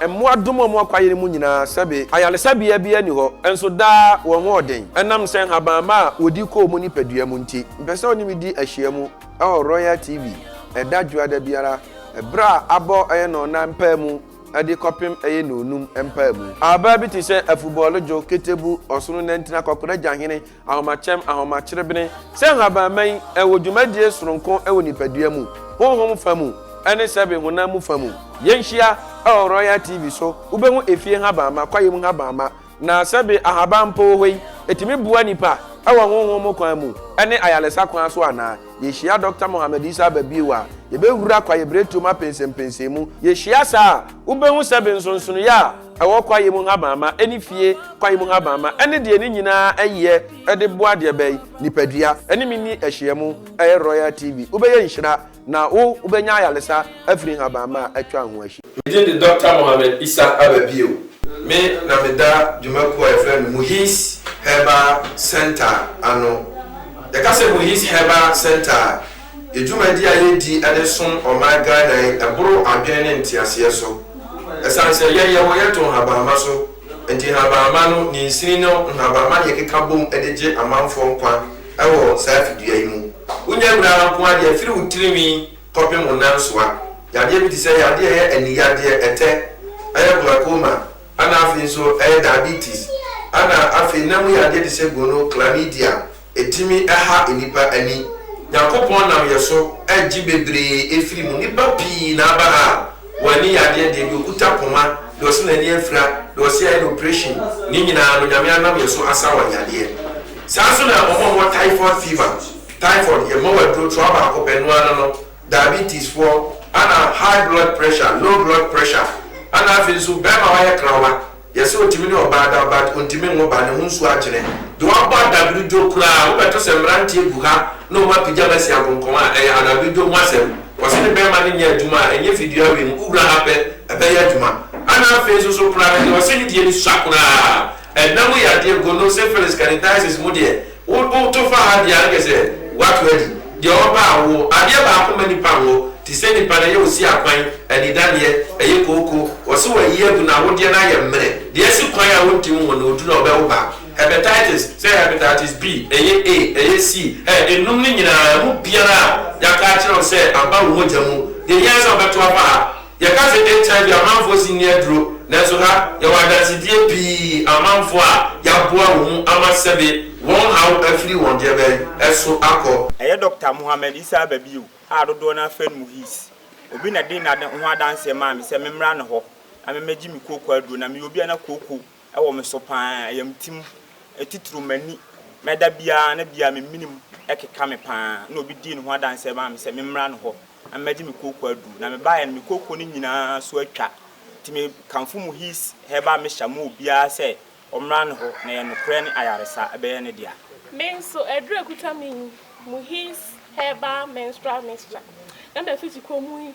Mmoa dom wɔn kwaeɛn mu nyinaa sɛbe. Ayaresabea biara nni hɔ, nso daa wɔn ho ɔden ɛnam sɛ nhabamma a wɔdi kɔ wɔn nipadua mu nti. Mpɛ sɛ wo ne me di ahyiamu wɔ Royal TV ɛda Dwoada biara berɛ a abɔ ɛyɛ nnɔnnan mpaamu de kɔpem ɛyɛ nnɔnum mpaamu. Abaa bi te sɛ afubɔɔlo dwo, ketebu, ɔsono nantin, akɔkora gyahene, Ahomakyɛm, Ahomakyerebene, sɛ nhabanman, ɛwɔ dwumadie soronko wɔ nipadua mu, honhom fa mu, ne sɛbe honam mu fa mu. Yɛnhyia wɔ Royal TV so, wobɛhu efie nhabamma, kwaeɛ mu nhabamma, na sɛbe ahaban mpo wɔ hɔ yi, ɛtumi boa nipa wɔ honhom mu kwan mu ne ayaresa kwan so anaa? Yɛhyia Dɔkta Mohammed Isa Aba bio a, yɛbɛwura kwaeɛbiretuo mu apɛnsɛmpɛnsɛmu. Yɛhyia saa a, wobɛhu sɛbe nsonsonoeɛ a ɛwɔ kwaeɛ mu nhabamma ne fie kwan mu nhabamma ne deɛ ne nyinaa yɛ de boa deɛ bɛn? Nipadua. Ɛne me nni ahyiamu. Ɛyɛ Royal TV. Wobɛyɛ nhyira na wo wobɛnya ayaresa afiri nhabamma a atwa ho ahyia. Me din de Dɔkta Mohammed Issa Aba bio. Me na me da dwuma kuo a yɛfrɛ no Muhiz Herbal Centre ano. Yɛka sɛ Muhiz Herbal Centre a, Yɛ dwumadi a yɛdi de som ɔman Ghana yi boro adwene ne nteaseɛ so. Ɛsiane sɛ yɛn yɛwɔ yɛto nhabamma so nti, nhabamma no, ne nsini ne nhabamma ne yɛkeka bom de gye amanfoɔ nkwa wɔ saa fidua yi mu. Wonya wira ara nko ara deɛ, firi wo tirinwi kɔpem wo nansoa, yadeɛ bi te sɛ yadeɛ a ɛyɛ aniyadeɛ, ɛtɛ, ɛyɛ glaucoma, ɛna afei nso ɛyɛ diabetes, ɛna afei nam mu yadeɛ te sɛ gono, chlamydia, Etumi ha nnipa ani. Nyankopɔn nam yɛ so gye bebree efiri mu. Nnipa pii na aba ha a wɔn ani yɛ adeɛ deɛ, deɛ okuta poma, deɛ ɔse n'ani afira, deɛ ɔse yɛayɛ no operation, ne nyinaa no Nyame anam yɛ so asa wɔn yadeɛ. Saa nso na wɔn a wɔwɔ typhoid fever, typhoid, yɛma wɔn aduro toa baako pɛ, ɛno ara no, diabetes foɔ, ɛna high blood pressure, low blood pressure, ɛna afei nso bɛɛma wayɛ krawa, Yɛse otumi ne ɔbaa da but ontumi nwo ba, ne ho nsuo akyene. Deɛ wabɔ adabredwo koraa, wobɛto sɛ mmeranteɛ gu ha na wɔn apigya masi agonkɔn a, ɛyɛ adabredwo ho asɛm. Ɔse ne bɛɛma no nyɛ adwuma a, ɛnyɛ fidua wei mu, wowura ha pɛ, ɛbɛyɛ adwuma. Ana afei nso so koraa no deɛ ɔse ne deɛ no sua koraa, ɛnam yadeɛ, gono, syphilis, canithiasis mu deɛ, Wo wo to fa ha deɛ a anka sɛ woato adi deɛ ɔba a wo adeɛ baako ma nipa nwo te sɛ nipa no ɛyɛ osi akwan anidaneɛ ɛyɛ kooko wɔse wayi agu na awodeɛ no ayɛ mmerɛ deɛ asi kwan a wontim nwo no odu na ɔbɛwo ba hepatitis sɛ hepatitis B ɛyɛ A ɛyɛ C ɛ enum no nyinaa ɛmu biara a yɛaka akyerɛ wo sɛ aba wo mogya mu deɛ hia ara sɛ wobɛto afa ha. Yɛka sɛ HIV amanfoɔ si nni aduro, nanso ha yɛwɔ adansedie pii amanfoɔ a yɛaboa wɔn mu ama sɛbe wɔn haw afiri wɔn deɛ bɛn so akɔ. Ɛyɛ Dɔkta Mohammed Isah Babiu a dodoɔ no ara frɛ no Muhis. Obi na dii n'ade ho adanseɛ maa me sɛ memmra ne hɔ na memmɛgye me kooko aduro. Na meyɛ obi a na kooko Ɛwɔ me so paa, ɛyɛ me tirim, ɛtitiriw m'ani, na da biara na biara me menem keka me paa, na obi dii ne ho adanseɛ maa me sɛ memmra ne hɔ na mmɛgye me kooko aduru, na mebaeɛ no me kooko no nyinaa so atwa, nti me kamfo mo his herbal mixture ma obiara sɛ ɔmmra ne hɔ, na ɛyɛ nokorɛ ne ayaresa, ɛbɛyɛ ne dea. Me nso aduru a ɛkuta me yi, mo his herbal menstrual mixture, na mafiti kɔm yi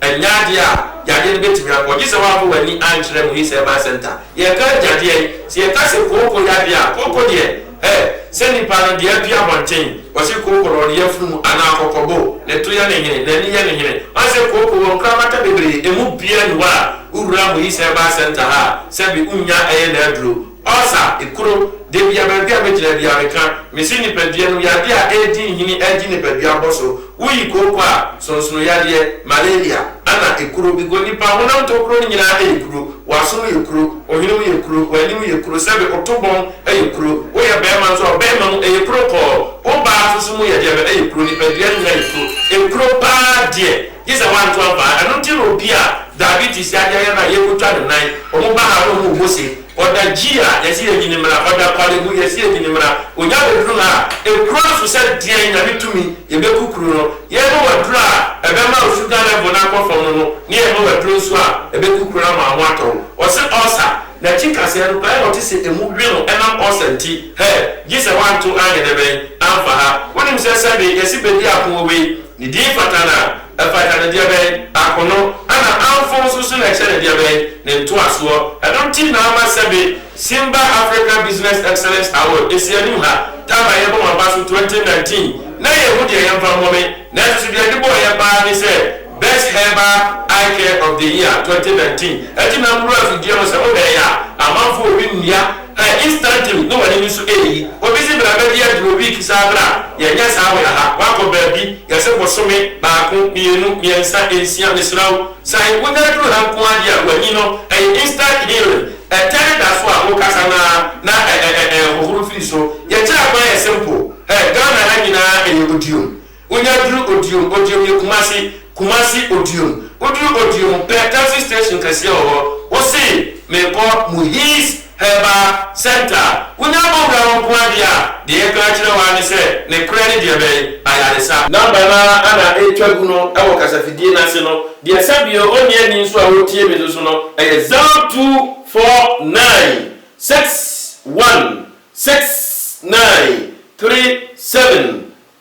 Ɛnyɛ adeɛ a yadeɛ no bɛtumi akɔ, gye sɛ woamfa w'ani ankyerɛ Muhi Service Centre. Yɛka agyadeɛ, sɛ yɛka sɛ kooko yadeɛ a, kooko deɛ, hɛ, sɛ nnipa no, deɛ adu abɔnten, wɔse kooko no, ɔno yafunu mu, anaa kɔkɔbo, ne to yɛ ne hene, n'ani yɛ ne hene. Woahu sɛ kooko wɔ nkorabata bebree, ɛmu biara nni hɔ a wowura Muhi Service Centre ha a, sɛbe wonnya ɛyɛ n'aduro. Ɔsa, ekuro, de bia baabi a megyina bia meka, mese nipadua no yadeɛ a ɛredi nhini agye nipadua abɔso, woyi kooko a, sonsono yadeɛ, malaria, ana ekuro, bigo nipa honam tokuro no nyinaa yɛ kuro, waso mu yɛ kuro, ohwene mu yɛ kuro, wanim yɛ kuro, sɛbe oto bɔn yɛ kuro, woyɛ barima nso a ɔbarima mu yɛ kuro kɔɔ, obaa nso so mu yɛ deɛ bɛ yɛ kuro, nipadua no nyinaa yɛ kuro, ekuro paa deɛ. Gye sɛ wanto ampa ara. Ɛno nti na obi a diabetes yɛ adeɛ ayɛ no a, yɛkɔtwa ne nan. Wɔn ba ha no, wɔn rebɔ se. Ɔda gyi a, yɛse yɛnyi no mmra. Ɔda kwale mu, yɛse yɛnyi no mmra. Ɔnya bɛduru ha a, ɛkura nso sɛ deɛn, Nyame tumi, yɛbɛku kuro no. Yɛrema waduru a, ɛbɛma wo sugar level no akɔ fam no no, ne yɛrema waduru nso a, ɛbɛku kuro no ama wo ho atɔ wo. Ɔse ulcer, n'akyi kaseɛ no pɛɛ na ɔte sɛ ɛmu we no ɛnam ulcer nti. Hɛ! Gye sɛ wanto anyɛ dɛbɛn? Amfa ha. Wonim sɛ sɛbe yɛse bɛdi apono wei, Ne din fata no a, ɛfata no deɛbɛn? Akono, ɛna amfo nso so na ɛkyɛ no deɛbɛn? Ne ntoasoɔ. Ɛno nti na ama sɛbe Simba Africa Business Excellence Award ɛsi anim ha, time a yɛbɔ mo abaso 2019, na yɛnhu deɛ yɛmfa mmɔ me, nanso so deɛ yɛde bɔɔ yɛ paa ne sɛ Best Herbal Eye Care of the Year 2019, ɛnti na mewura fidie mu sɛ mobɛɛyɛ a, amanfoɔ ɔbi nnua. Ɛ, instantly na wɔn ani nso reyi. Obi se bra bɛgye aduro week saa bra, yɛnyɛ saa wɔ ha, woakɔ baabi, yɛse bosome, baako, mmienu, mmiɛnsa, nsia, mesrɛ wo san, wonya aduru ha nko ara deɛ a w'ani no, ɛyɛ instant healing, ɛtɛre da so a wokasa no ara na ɛ ɛ ɛ ɛhohoro firi so, yɛkyerɛ kwan yɛ simple, ɛ, Ghana ha nyinaa ɛyɛ odiom. Wonya duru Odiom, Odiom yɛ Kumasi, Kumasi, Odiom. Woduru Odiom pɛ, taxi station kɛseɛ wɔ hɔ. Wose merekɔ Muhiz Herbal Centre. Wonya abɔwura hɔ nko ara deɛ a, deɛ yɛka akyerɛ wo ara ne sɛ ne korɛ ne deɛ bɛn? Ayaresa. Number no ara na ɛretwa gu no wɔ kasafidie no ase no. Deɛ sɛ deɛ ɔnni ani nso a ɔretie me no so no, ɛyɛ zero two four nine six one six nine three seven.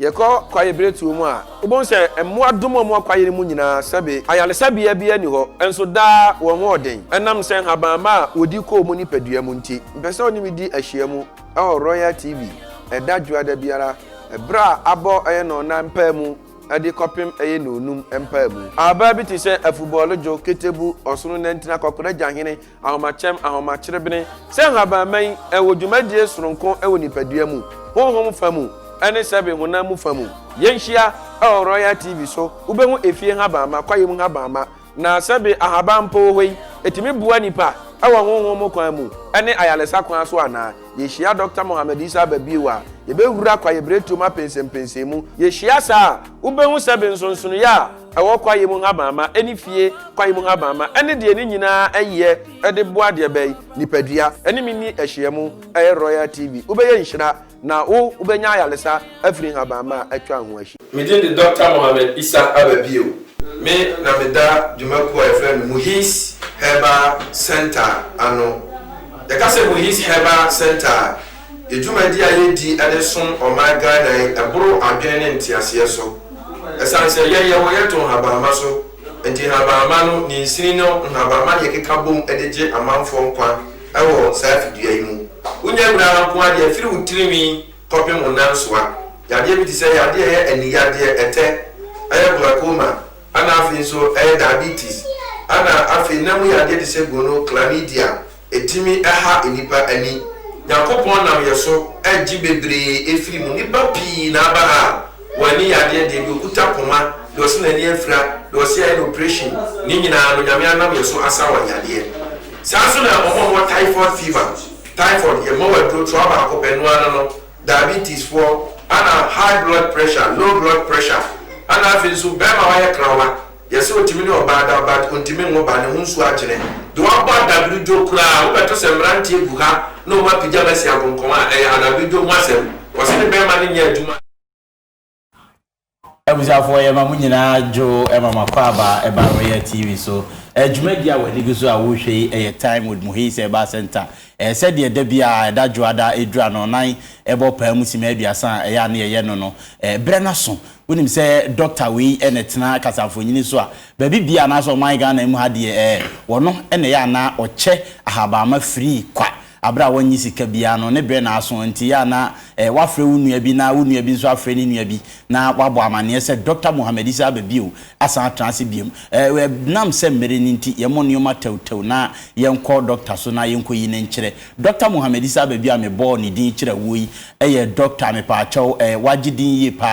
Yɛkɔ kwaeɛ berɛtuo mu a, wobɛhu sɛ mmoa dom a wɔwɔ kwaeɛ no mu nyinaa sɛbe. Ayaresabea biara nni hɔ, nso daa wɔn ho ɔden. Ɛnam sɛ nhabamma a wɔdi kɔ wɔn nipadua mu nti, mepɛ sɛ wo ne me di ahyiam wɔ Royal TV ɛda Dwoada biara berɛ a abɔ ɛyɛ nnɔnnan mpaamu de kɔpem ɛyɛ nnɔnum mpaamu. Abaa bi te sɛ afubɔɔlodwo, ketebu, ɔsono nantina, kɔkɔrɔ agyahene, Ahomakyɛm, Ahomakyerebene, sɛ nhabanman, ɛwɔ dwumadie soronko wɔ nipadua mu, honhom fa mu, ne sɛbe honam mu fa mu. Yɛnhyia wɔ Royal TV so, wobɛhu efie nhabamma, kwaeɛ mu nhabamma, na sɛbe ahaban mpo wɔ hɔ yi, ɛtumi boa nipa wɔ honhom mu kwan mu ne ayaresa kwan so anaa? Yɛhyia Dɔkta Mohammed Isa ba bio a, yɛbɛwura kwaeɛbiretuo mu apɛnsɛmpɛnsɛmu. Yɛhyia saa a, wobɛhu sɛbe nsonsonoeɛ a ɛwɔ kwaeɛ mu nhabamma ne fie kwan mu nhabamma ne deɛ ne nyinaa yɛ de boa deɛ bɛn nipadua ne me nni ahyiamu ɛyɛ Royal TV wobɛyɛ nhyira na wo wobɛnya ayaresa afiri nhabamma a atwa ho ahyia. Me din de Dɔkta Mohammed Issa Aba Bio. Me na me da dwuma kuo a yɛfrɛ no Muhis Herbal Centre ano. Yɛka sɛ Muhis Herbal Centre a, Yɛ dwumadi a yɛdi de som ɔman Ghana yi boro adwene ne nteaseɛ so. Ɛsiane sɛ yɛn yɛwɔ yɛto nhabamma so nti, nhabamma no, ne nsini no, nhabamma ne yɛkeka bom de gye amanfoɔ nkwa wɔ saa fidua yi mu. Wonya wira ara nko ara deɛ, firi wo tirinwi kɔpem wo nansoa, yadeɛ bi te sɛ yadeɛ a ɛyɛ aniyadeɛ, ɛtɛ, ɛyɛ glaucoma, ɛna afei nso ɛyɛ diabetes, ɛna afei nna mu yadeɛ te sɛ gono, chlamydia, Etumi ha nnipa ani. Nyankopɔn nam yɛ so gye bebree efiri mu. Nnipa pii na aba ha a wɔn ani yɛ adeɛ deɛ, deɛ okuta poma, deɛ ɔse n'ani afira, deɛ ɔse ayɛ no operation, ne nyinaa no Nyame anam yɛ so asa wɔn yadeɛ. Saa nso na wɔn a wɔwɔ typhoid fever, typhoid, yɛ mma wɔn aduro toa baako pɛ, ɛno ara no, diabetes foɔ, ɛna high blood pressure, low blood pressure, ɛna afei nso bɛɛma a wayɛ krawa, Yɛse otumi ne ɔbaa da but ontumi nwo ba, ne ho nsuo akyene. Deɛ wabɔ adagrodwo koraa, wobɛto sɛ mmeranteɛ gu ha na wɔn apigya bɛsi agonkɔn a, ɛyɛ adagrodwo ho asɛm. Ɔse ne bɛɛma no nyɛ adwuma. Abusuafoɔ yɛma mo nyinaa dwo ma mo akwaaba ɛba Royal TV so. Dwumadie a w'ani gu so a wohwɛ yi yɛ Time with Muhii sɛ ɛbaa Centre. Ɛyɛ sɛdeɛ da biara ɛda dwoada ɛduru anɔnan ɛbɔ paa mu simma aduasa a ɛyɛ a ne yɛyɛ no no. Berɛ no aso Wonim sɛ Doctor wei na ɛtena kasamfoɔnyini so a, baabi biara anaasɛ ɔman Ghana mu ha deɛ ɛɛ, wɔno na ɛyɛ a na ɔkyɛ ahabanma firii kwa aberɛ a wɔnnye sika biara no, ne berɛ na aso nti ɛyɛ a na ɛɛ woafrɛ wo nua bi na wo nua bi nso afrɛ ne nua bi na wabɔ amaneɛ sɛ Doctor Mohammed Isa aba bio asan atena ase biom. Ɛɛ ɛnam sɛ mmerɛ no nti yɛmmɔ nnoɔma tɛwtɛw na yɛnkɔ Doctor so na yɛnkɔyi no nkyerɛ. Dɔkta Mohammed Isa Ababia a mebɔɔ ne din kyerɛ wo yi yɛ dɔkta a mepaakyɛw eh, wagye din yie pa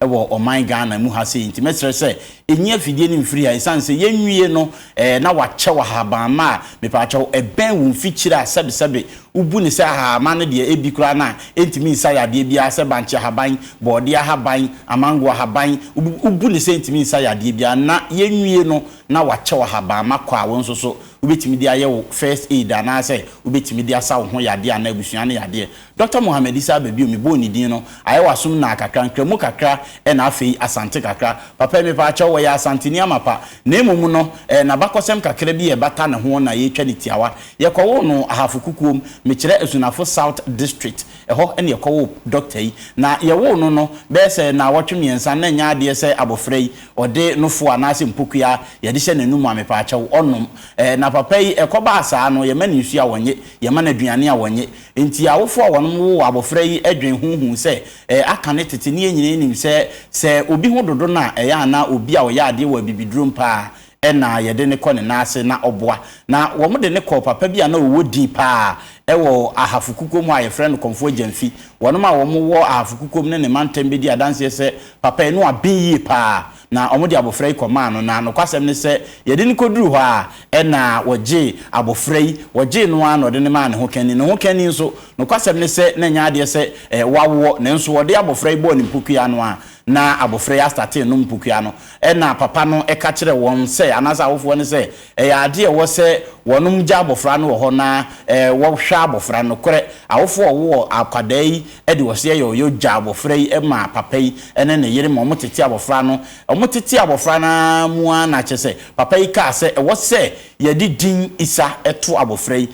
ara wɔ ɔman Ghana mu ha sei nti mɛsrɛ sɛ nyi afidie no mfiri ha ɛsiane sɛ yɛnwie no eh, na wakyɛw ahabamma a mepaakyɛw ɛbɛn wo mfikyire a sɛbesɛbe wobu no sɛ ahahamma no deɛ ɛbi koraa no a ɛntumi nsa yadeɛ biara sɛ bankye ahaban, bɔɔdeɛ ahaban, amango ahaban, wobu no sɛ ɛntumi nsa yadeɛ biara na yɛnwie no na wakyɛw ahabamma kɔ a wo nso so Wobɛtumi de ayɛ wo first aid anaasɛ wobɛtumi de asa wo ho yadeɛ anaa abusua no yadeɛ. Dɔkta Mohammed Issa aba bio, mebɔɔ ne din no, ayɛ w'asom nnaa kakra, Nkramu kakra ɛna afei Asante kakra. Papa yi, mepaakyɛw, ɔyɛ Asanteni amapa, na mmom no, ɛyɛ n'abakɔsɛm kakra bi a ɛbata ne ho na yɛretwa no tiawa. Yɛkɔwoo no Ahafo Kukuom, mekyerɛ Asunafo South District, ɛhɔ na yɛkɔwoo dɔkta yi. Na yɛwoo no no, bɛyɛ sɛ nnawɔtwe mmiɛnsa, na ɛnyɛ adeɛ sɛ abɔfra yi, Ɔde no fo anaasɛ mpokua yɛde hyɛ n'anum a mepaakyɛw, ɔnom. Ɛɛ, na papa yi, ɛkɔbaa saa no, yɛma no nsu a ɔnnye, yɛma no aduane a ɔnnye. Enti awofo a wɔnom woo abofra yi dwen ho huu sɛ, ɛɛ, aka ne tete ne yɛn nyinaa nim sɛ, sɛ obi ho dodo no a, ɛyɛ a na obi a ɔyɛ adeɛ wɔ abibiduro mu paa na yɛde no kɔ ne nan ase na ɔboa. Na wɔde no kɔɔ papa bi a na ɔwɔ din paa wɔ Ahafo Kukom hɔ a yɛfrɛ no Kɔmfoɔ Gyamfi. Wɔnom a wɔwɔ Ahafo Kukom ne ne mantam bɛdi adanseɛ sɛ Papa yi no aben yie paa na wɔde abofra yi kɔmaa no na nokwasɛm ne sɛ yɛde no kɔduruu hɔ a ɛna wɔgyee abofra yi, wɔgyee no ara na wɔde no maa ne hokani. Ne hokani nso, nokwasɛm ne sɛ na ɛnyɛ adeɛ sɛ wawoɔ nanso wɔde abofra yi bɔɔ ne mpokua no a na abofra yi astate renom mpokua no. Ɛna papa no ka kyerɛɛ wɔn sɛ, anaasɛ awofoɔ no sɛ, Ɛyɛ ade a ɛwɔ sɛ wɔnom gya abɔfra no wɔ hɔ na wɔ hwɛ abɔfra no. Nokorɛ, awofo a wɔwɔ akwadaa yi de ɔseɛ yɛ ɔyɔ gya abɔfra yi ma papa yi ne ne yere ma wɔtete abɔfra no. Wɔtetee abɔfra no ara mu ara na kyerɛ sɛ papa yi kaa sɛ ɛwɔ sɛ yɛde din Isa to abɔfra yi.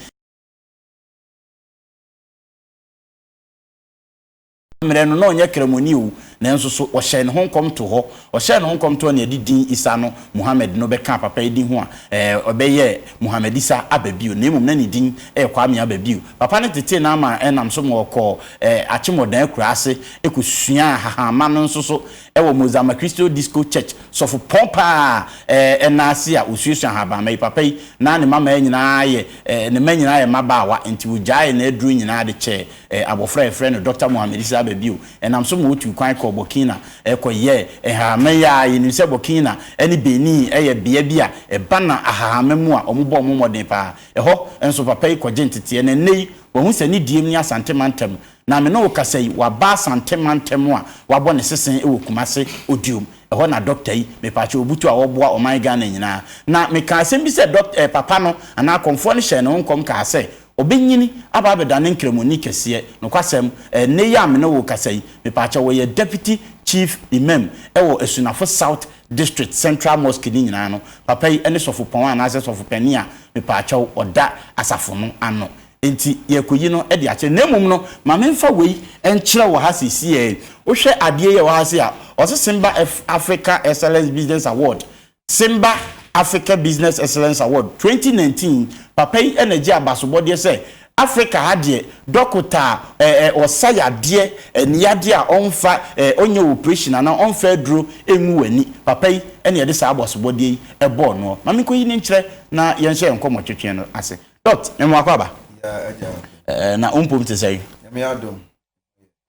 Saa mmerɛ no, na ɔnyɛ Kramoni oo, nanso so ɔhyɛɛ ne ho nkɔm too hɔ? Ɔhyɛɛ ne ho nkɔm too hɔ na yɛde din Isa no, Muhammad no, bɛkaa papa yi din ho a, ɛɛ, ɛbɛyɛɛ Muhammad Isa Aba bio, na mmom na ne din yɛ Kwame Aba bio. Papa no tetee no ama ɛnam so ma ɔkɔɔ, ɛɛ, Akyemmɔdan akuraa ase kɔsuaa hahamma no nso so wɔ Mozama Cristo Disco Church, sɔfopɔn pa ara a, ɛɛ, ɛnna ase a ɔsuasua ahabanmma yi. Papa yi, na ne mmammaa nyinaa yɛ, ɛɛ, ne mma nyinaa yɛ mmabaawa, enti ɔgyaee n'aduro nyinaa de kyɛɛ Abofra a wɔfrɛ no Dɔkta Mohammed Isa aba bio nam so ma wotuu kwan kɔɔ Burkina kɔyɛɛ nhahamma yi ara. Yenim sɛ Burkina ne Benin yɛ bea bi a ɛba na ahahamma mu a wɔbɔ wɔn mmɔden paa. Ɛhɔ nso papa yi kɔgye nteteɛ, na nnɛ yi wahu sɛ ne diem ne Asante mantam. Na me ne wo kasa yi, waba Asante mantam a wabɔ ne sese wɔ Kumase Odiom. Ɛhɔ na dɔkta yi, mepaakyɛw, butu a ɔboa ɔman Ghana nyinaa. Na mekaa asɛm bi sɛ dɔk eh, papa no anaa akɔmfoɔ no hyɛɛ ne ho nkɔm kaa sɛ, Ɔbɛnyin aba abɛda ne nkramoni kɛseɛ. Nokwasɛm, ɛnnɛ yi a me ne wo rekasa yi, mepaakyɛw, ɔyɛ Deputy Chief Imam wɔ Asunafo South District Central Mosque no nyinaa no. Papa yi ne Sɔfopɔn anaasɛ Sɔfopanin a mepaakyɛw ɔda asafo no ano. Enti yɛrekɔyi no de akyerɛ. Na mmom no, ma memfa wei nkyerɛ wo ha seesei ara yi. Wohwɛ adeɛ yi a ɛwɔ ha sei a, ɔsesemba Africa Excellence Business Award Simba Africa Business Excellence Award twenty nineteen, papa yi na gye abasobɔdeɛ sɛ Africa ha deɛ dɔkota a eh eh ɔsa yadeɛ eh ne yadeɛ a ɔmfa eh ɔnyɛ operation anaa ɔmfa aduro ngu w'ani, papa yi na yɛde saa abasobɔdeɛ yi bɔɔ noɔ. Ma menkɔyi no nkyerɛ na yɛnhyɛ yɛn nkɔmmɔ twetwee no ase. Doct. Mmoako aba? Yeah, Agya. Eh, na wo mpom te sɛn? Nyame adom.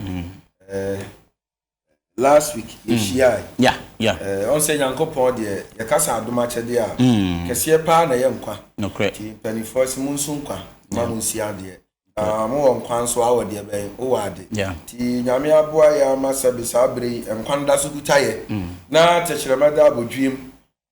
Mm. Eh, last week mm. yɛhyiae yeah, yeah. Uh, ɔn sɛ nyankopɔn deɛ yɛka sa adom akyɛdeɛ a mm. kɛseɛ paa na ɛyɛ nkwa nti mpanimfoɔ sɛ mo nso nkwa ma mo nsi adeɛ ah, mowɔ nkwa nso awɔ deɛ bɛn wowɔ ade nti nyame aboa yɛ ama sɛ be saa bere yi nkwa no da so kuta yɛ mm. na tɛkyerɛma da abɔdwiem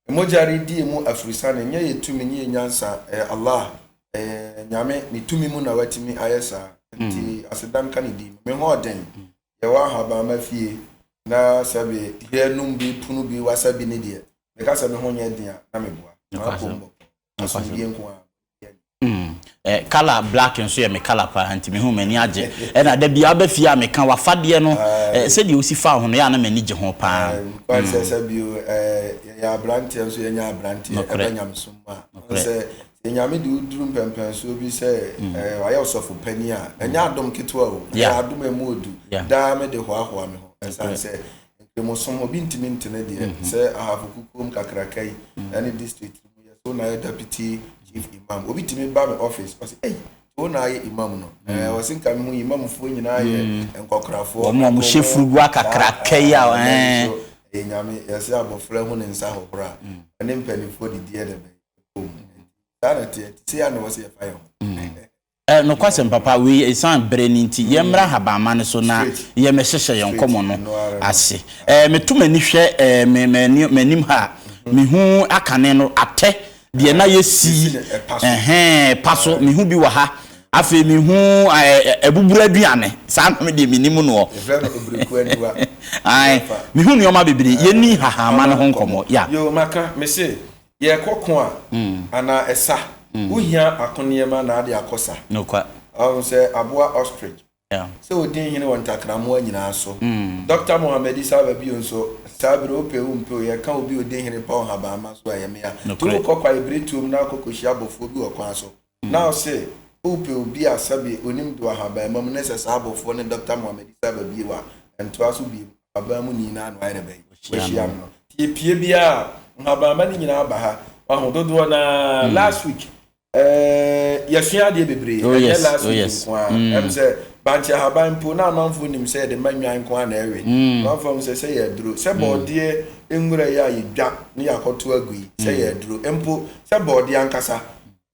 Mogya redie mu afurisane nyɛ yɛ tumi ne yɛ nyansa, ɛyɛ Allah, ɛyɛ Nyame ne tumi mu na watumi ayɛ saa. Nti mm. aseda nka ne din. Me ho ɔden, mm. yɛwɔ ahabamma fie na sɛbe hwɛ nom bi, pono bi, wasa bi ne deɛ. Meka sɛ me ho nyɛ den a na meboa. Maapɔ mbɔ. asomdwie nko ara. Mm. Eh, color black nso yɛ me color paa nti me ho m'ani agye. Ɛna da bia aba fie a meka wafadeɛ no eh, sɛdeɛ osi fa ho no yɛ a na m'ani gye ho paa. Kwan sɛ sɛ bio eh, yɛyɛ aberanteɛ nso yɛnyɛ aberanteɛ ɛbɛ nyamesom mu a. Sɛ sɛ nyame de woduru mpɛmpɛnsoɔ bi sɛ eh, wayɛ ɔsɔfo panin a, ɛnyɛ adom ketewa o, ɛyɛ adom ɛmu odu. Daa me de hoahoa me ho ɛsan sɛ nkramosom obi ntumi ntene deɛ sɛ ahafo kukuom kakraka yi ɛne district yɛ so na yɛ deputy chief imam obi tumi ba mi office ɔsi ɛyi so na ayɛ imam no mm. ɛɛ ɔsi nka mi mu imamfoɔ nyinaa yɛ mm. nkɔkorafoɔ wɔn a wɔn hyɛ furugu akakra kɛyi a ɛɛ ɛyɛ eh. nyame yɛsi abɔfra hu ne nsa hohoro a mm. ɛne mpanimfoɔ didiɛ na ɛbɛn ɛkɔm saa na teɛ te se a na wɔsi yɛ fa yɛ ho. Ɛ, nokwasɛm papa, wei yɛ esiane bere no nti. Yɛmmra ahabamma no so na yɛmmɛhyehyɛ yɛn nkɔmmɔ no ase. Ɛ, meto m'ani hwɛ ɛ, me, m'ani, m'anim ha a, mehu akane no, atɛ, deɛ na yɛasi ɛhɛɛ pa so, mehu bi wɔ ha. Afei mehu ɛ, ɛ, abuburo aduane, saa no deɛ mennim no ɔ. Ae, mehu nneɛma bebree. Yɛnni nhahamma no ho nkɔmmɔ. Ya. Yoo, maka, mese, Yɛkɔ ko a anaa ɛsa wo hia ako nneɛma na ade akɔ sa. Ɔho sɛ aboa ostrich sɛ odi nhene wɔ ntakramoa nyinaa so. Dɔkta Mohammed Isa ba bio nso saa bere wopɛ wo mpɛ o yɛka obi odi nhene pa ɔhabamma so a ɛyɛ mea. To wo kɔkwae bere tuom na akɔ kɔhyia abɔfoɔ bi wɔ kwan so. Na ɔse wopɛ obi a sɛbe onim do ahabanmam ne sɛ saa abɔfoɔ ne Dɔkta Mohammed Isa ba bio a, ɛntoa so bio, ahaban mu nii no ara na wayɛ dɛbɛn? Wahyia no. Nti epue biara a, nhabanma no nyinaa ba ha, wahu, dodoɔ no ara, last week, eh, yɛsua adeɛ bebree, ɛnyɛ last week nko ara, ɛm sɛ Bankye ahaban mpo, na amanfoɔ nim sɛ yɛde ma nnwan nko ara na ɛwe, amanfoɔ ahu sɛ sɛ yɛ aduro, sɛ bɔɔdeɛ nwura yi a yɛdwa na yɛakɔto agu yi, sɛ yɛ aduro, mpo sɛ bɔɔdeɛ ankasa,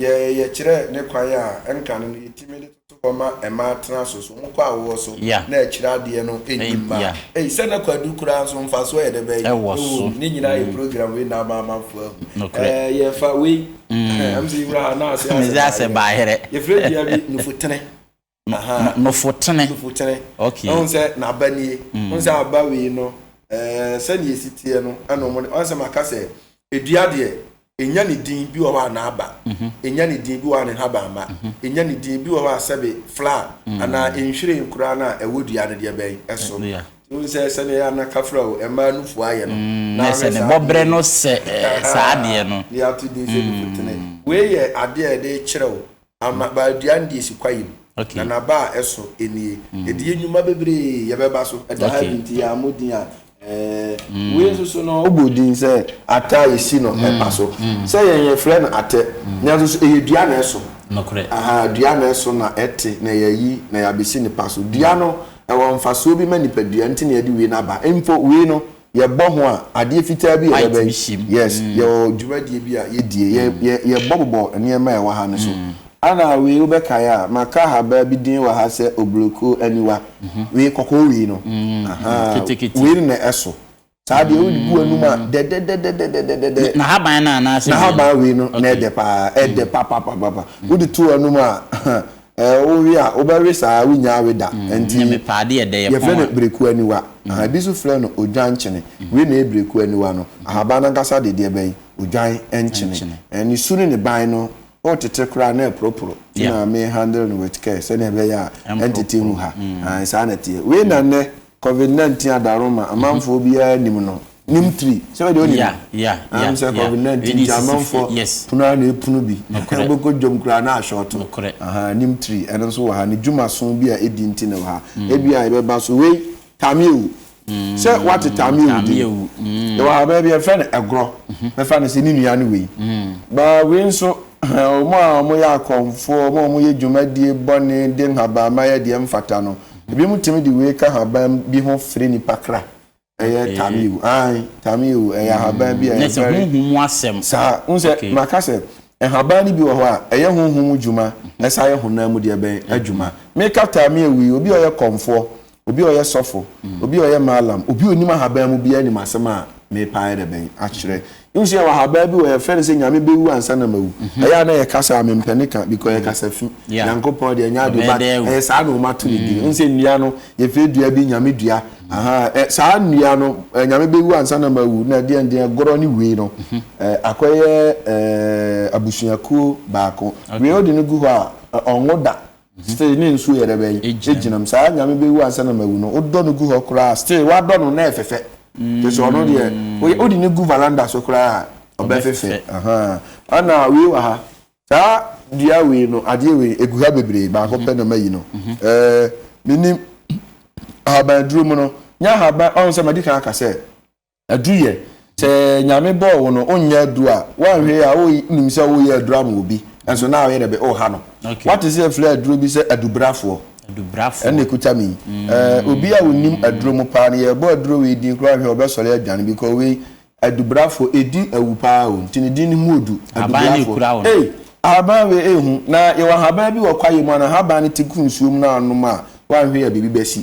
Deɛ yɛyɛ kyerɛ ne kwan a ɛnka no no, yɛtumi de toto hɔ ma mmaa tena so. So wokɔ awoɔ so na akyire adeɛ no nni mmaa? Ei, sɛ na kwadu koraa nso mfasoɔ yɛ dɛ bɛn wɔ so? Ne nyinaa yɛ program wei na ama amanfoɔ ahu. Nokorɛ. Ɛɛ, yɛfa wei, ɛhɛn, ɛm sɛ yɛwura ha na ase asɛ baayerɛ. Yɛfrɛ dua bi nufutene. Ahaa. Nofotene. Nofotene. Okay. Woahu sɛ n'aba nie. Mm. Woahu sɛ aba wei no, ɛɛ sɛdeɛ ɛsi teɛ no, ɛna wɔn de, wɔn sɛ maka sɛ, edua deɛ, ɛnya ne din bi wɔ hɔ a n'aba, ɛnya mhm. ne din bi wɔ hɔ a ne nhabamma, ɛnya mhm. ne din bi wɔ hɔ a sɛbe flower, mm. anaa nhwiren koraa no a ɛwɔ dua no deɛ bɛn ɛso. Wohu sɛ sɛdeɛ ɛyɛ ana kafra o, ɛmaa nufu ayɛ no. Mm, na sɛ ne bɔberɛ no sɛ eh, saa adeɛ no. Ne ato din sɛ nufutene. Wei yɛ adeɛ a yɛde kyerɛ o. ama ba dua no deɛ si kwaeɛ mu na n'aba a ɛso nie ɛdi yɛ nnwuma bebree yɛbɛba so ɛda ha bi nti yɛ ammo din a mm. wei nso so no wobɔ din sɛ ata yɛsi no mm. ɛba so mm. sɛ yɛn yɛfrɛ no atɛ nanso so ɛyɛ dua na ɛso aha dua na ɛso na ɛte na yɛyi na yɛabɛsi nipa so dua no ɛwɔ mfasoɔ bi ma nipadua nti na yɛde wei no aba mpo wei no Yɛbɔ ho a, adeɛ fitaa bi a yɛbɛyɛ. White bi hyɛ mu. Yes, yɛwɔ dwumadie bi a yɛdie. Yɛ, yɛ, yɛbɔ bobɔ nneɛma a ɛwɔ ha no so. Ana wei wobɛkae a, maka ahabaa bi din wɔ ha sɛ Obloko aniwa. Wei, kɔkɔɔ wei no. Ahaa. Ketekete. Wei no na ɛso. Saa deɛ wode gu w'anum a, dɛdɛdɛdɛdɛdɛdɛdɛdɛ. N, n'ahaban no anaasɛ wei no? N'ahaban wei no na ɛdɛ paa, ɛdɛ papapapapa. Wode to w'anum a, Ɛɛ wo we a wobɛwe saa wo nyaa we da nti yɛfrɛ no brekuo aniwa aha ebi nso frɛ no odwan nkyene wei na ɛyɛ brekuo aniwa no ahaban no ankasa de deɛ bɛyi odwan nkyene ɛɛ ne su ne ne ban no wotete koraa na ɛporoporo ti na me handle no with care sɛdeɛ ɛbɛyɛ a ɛntete ngu ha saa na ɛteɛ wei na nnɛ Covid nineteen adaroma amanfoɔ biara nim no nim tiri sɛ bɛ deɛ ɔnim Yeah, yeah, yeah, nam sɛ yeah. covid nineteen Ɛdi ti sisi amanfoɔ fie, yes. pono ara na epunu bi Nokorɛ. wobɛkɔ dwom koraa na ahyɔɔto Nokorɛ. aha nim tiri ɛno nso wɔ ha ne dwuma so bi a edi nti na ɛwɔ ha Mm. ebi a yɛbɛba so wei tameɛwu sɛ wate tameɛwu din Tameɛwu, mm. yɛwɔ ha baabi a yɛfrɛ no ɛgorɔ bɛfa no sɛ ne nua ne wei Mm. ba wei nso wɔn a wɔyɛ akɔmfoɔ wɔn a wɔyɛ dwumadie bɔne de nhabamma yɛ deɛ ɛmfata no Ebinom tumi de wei ka haban bi ho fere nipa kra. Ɛyɛ tameo. Ae, tameo. Ɛyɛ ahaban bi a ɛyɛ very. Nɛsɛ honhom mu asɛm. Saa. Wohu sɛ, maka sɛ, nhaban no bi wɔ hɔ a, ɛyɛ honhom mu dwuma, ɛsan yɛ honam mu deɛ bɛn? Adwuma. Meka tameo yi, obi a ɔyɛ kɔmfoɔ, obi a ɔyɛ sɔfo, obi a ɔyɛ mallam, obi a ɔnim ahaban mu biara nim asɛm a merepa ayɛ dɛ bɛn? Akyerɛ. Nsuɛ wɔ ha baa bi wɔ yɛ fɛ no sɛ nyame bɛ wu ansa na ma wu ɛyɛ a na yɛ kasa a me mpɛ ne ka because yɛ kasa fi nyankopɔn deɛ ɛnyɛ ade but ɛyɛ saa na ɔma to ne din nsɛ nnua no yɛ fɛ dua bi nyame dua ahaa saa nnua no nyame bɛ wu ansa na ma wu na ɛdeɛ ndeɛ ɛgorɔ ne wei no akɔ yɛ ɛɛ abusuakuo baako wei ɔde no gu hɔ a ɔnwo da Still ne nsuo yɛ dɛ bɛn egyina mu saa nyame bɛwu ansa na mawu no wodɔ no gu hɔ koraa still wadɔ no na ɛfɛfɛ kyerɛ sɛ ɔno deɛ woyɛ wode no gu valanda so koraa ɔbɛfɛfɛ ahaa ɛna wei wɔ ha saa dua wei no adeɛ wei egu ha bebree baako pɛ na mayi no ɛɛ menim ahaban aduro mu no nyɛ ahaban ɔn sɛ madi kan aka sɛ Aduru yɛ. Sɛ Nyame bɔɔ wo no wonyɛ aduru a, woanhwɛ yie a wonim sɛ woreyɛ aduru ama obi, nso na woyɛ dɛ bɛ ooha no. Woate sɛ yɛfrɛ aduro bi sɛ adubrafoɔ? Adubrafoɔ. Ɛna ɛkuta me yi. Ɛɛ, obi a ɔnim aduro mu paa no, yɛrebɔ aduro wei din koraa a, wohwɛ a ɔbɛsɔre adwane because wei, adubrafoɔ, ɛdi awu paa o, nti ne din no mu ɔdu, adubrafoɔ. Ahaban no ɛkura wo no. Ei, ahaban wei ɛhu, na yɛwɔ ahaban bi wɔ kwaeɛ mu a, na ahaban no te gu nsuo mu na wonom a, woanhwɛ yie a biribi bɛsi.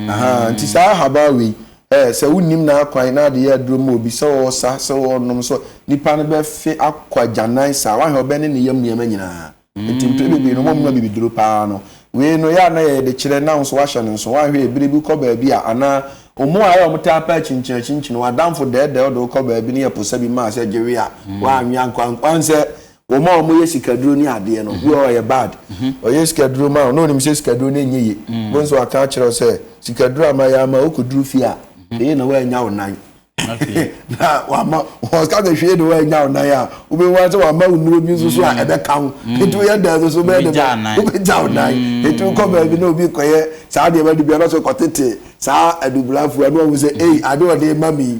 Ahaa, nti saa ahaban wei, Ɛ, sɛ wonnim n'akwan na adeyɛ aduro ma obi, sɛ ɔresa, sɛ ɔrenom, sɛ ɔ, nipa no bɛfe akɔ agyanan saa, woahe, ɔbɛne ne yam nneɛma nyinaa. Enti mprɛ bebree no wɔmma biribi duro pa ara no. Wei no, yɛ a na yɛyɛ de kyerɛ, na wo nso woahyɛ no nso. Woanhwɛ yɛ? Bere bi wokɔ baabi a, anaa mmoa a ɛ, wɔtaa pɛ akyinkyin akyinkyin, w'adamfo dɛɛdɛɛ wo de wo kɔ baabi na yɛ posa bi ma a, sɛ gye we a, woanwe ankɔ, woahu sɛ Wɔn a wɔn yɛ sikaduro ne adeɛ no, bi wɔ hɔ ɔyɛ bad. Ɔyɛ sikaduro ma wo na onim sɛ sikaduro no nyɛ ye. Wobɛhu sɛ waka akyerɛ wo sɛ sikaduro a mayɛ ama wo, wokɔduru fie a, hwee na woannya wo nan. Na wama ɔka sɛ hwee na woannya wo nan a, wobɛhu ara sɛ wama wo nnuro bi nso so a ɛbɛka ho. Nti woyɛ dɛn nso so bɛyɛ dɛ bɛ, wobɛgya wo nan. Nti wokɔ baabi na obi kɔyɛ saa nneɛma no bi a, na sɛ ɔkɔtete saa adubra fua no, wahu sɛ ei, ade a ɔde rema me yi,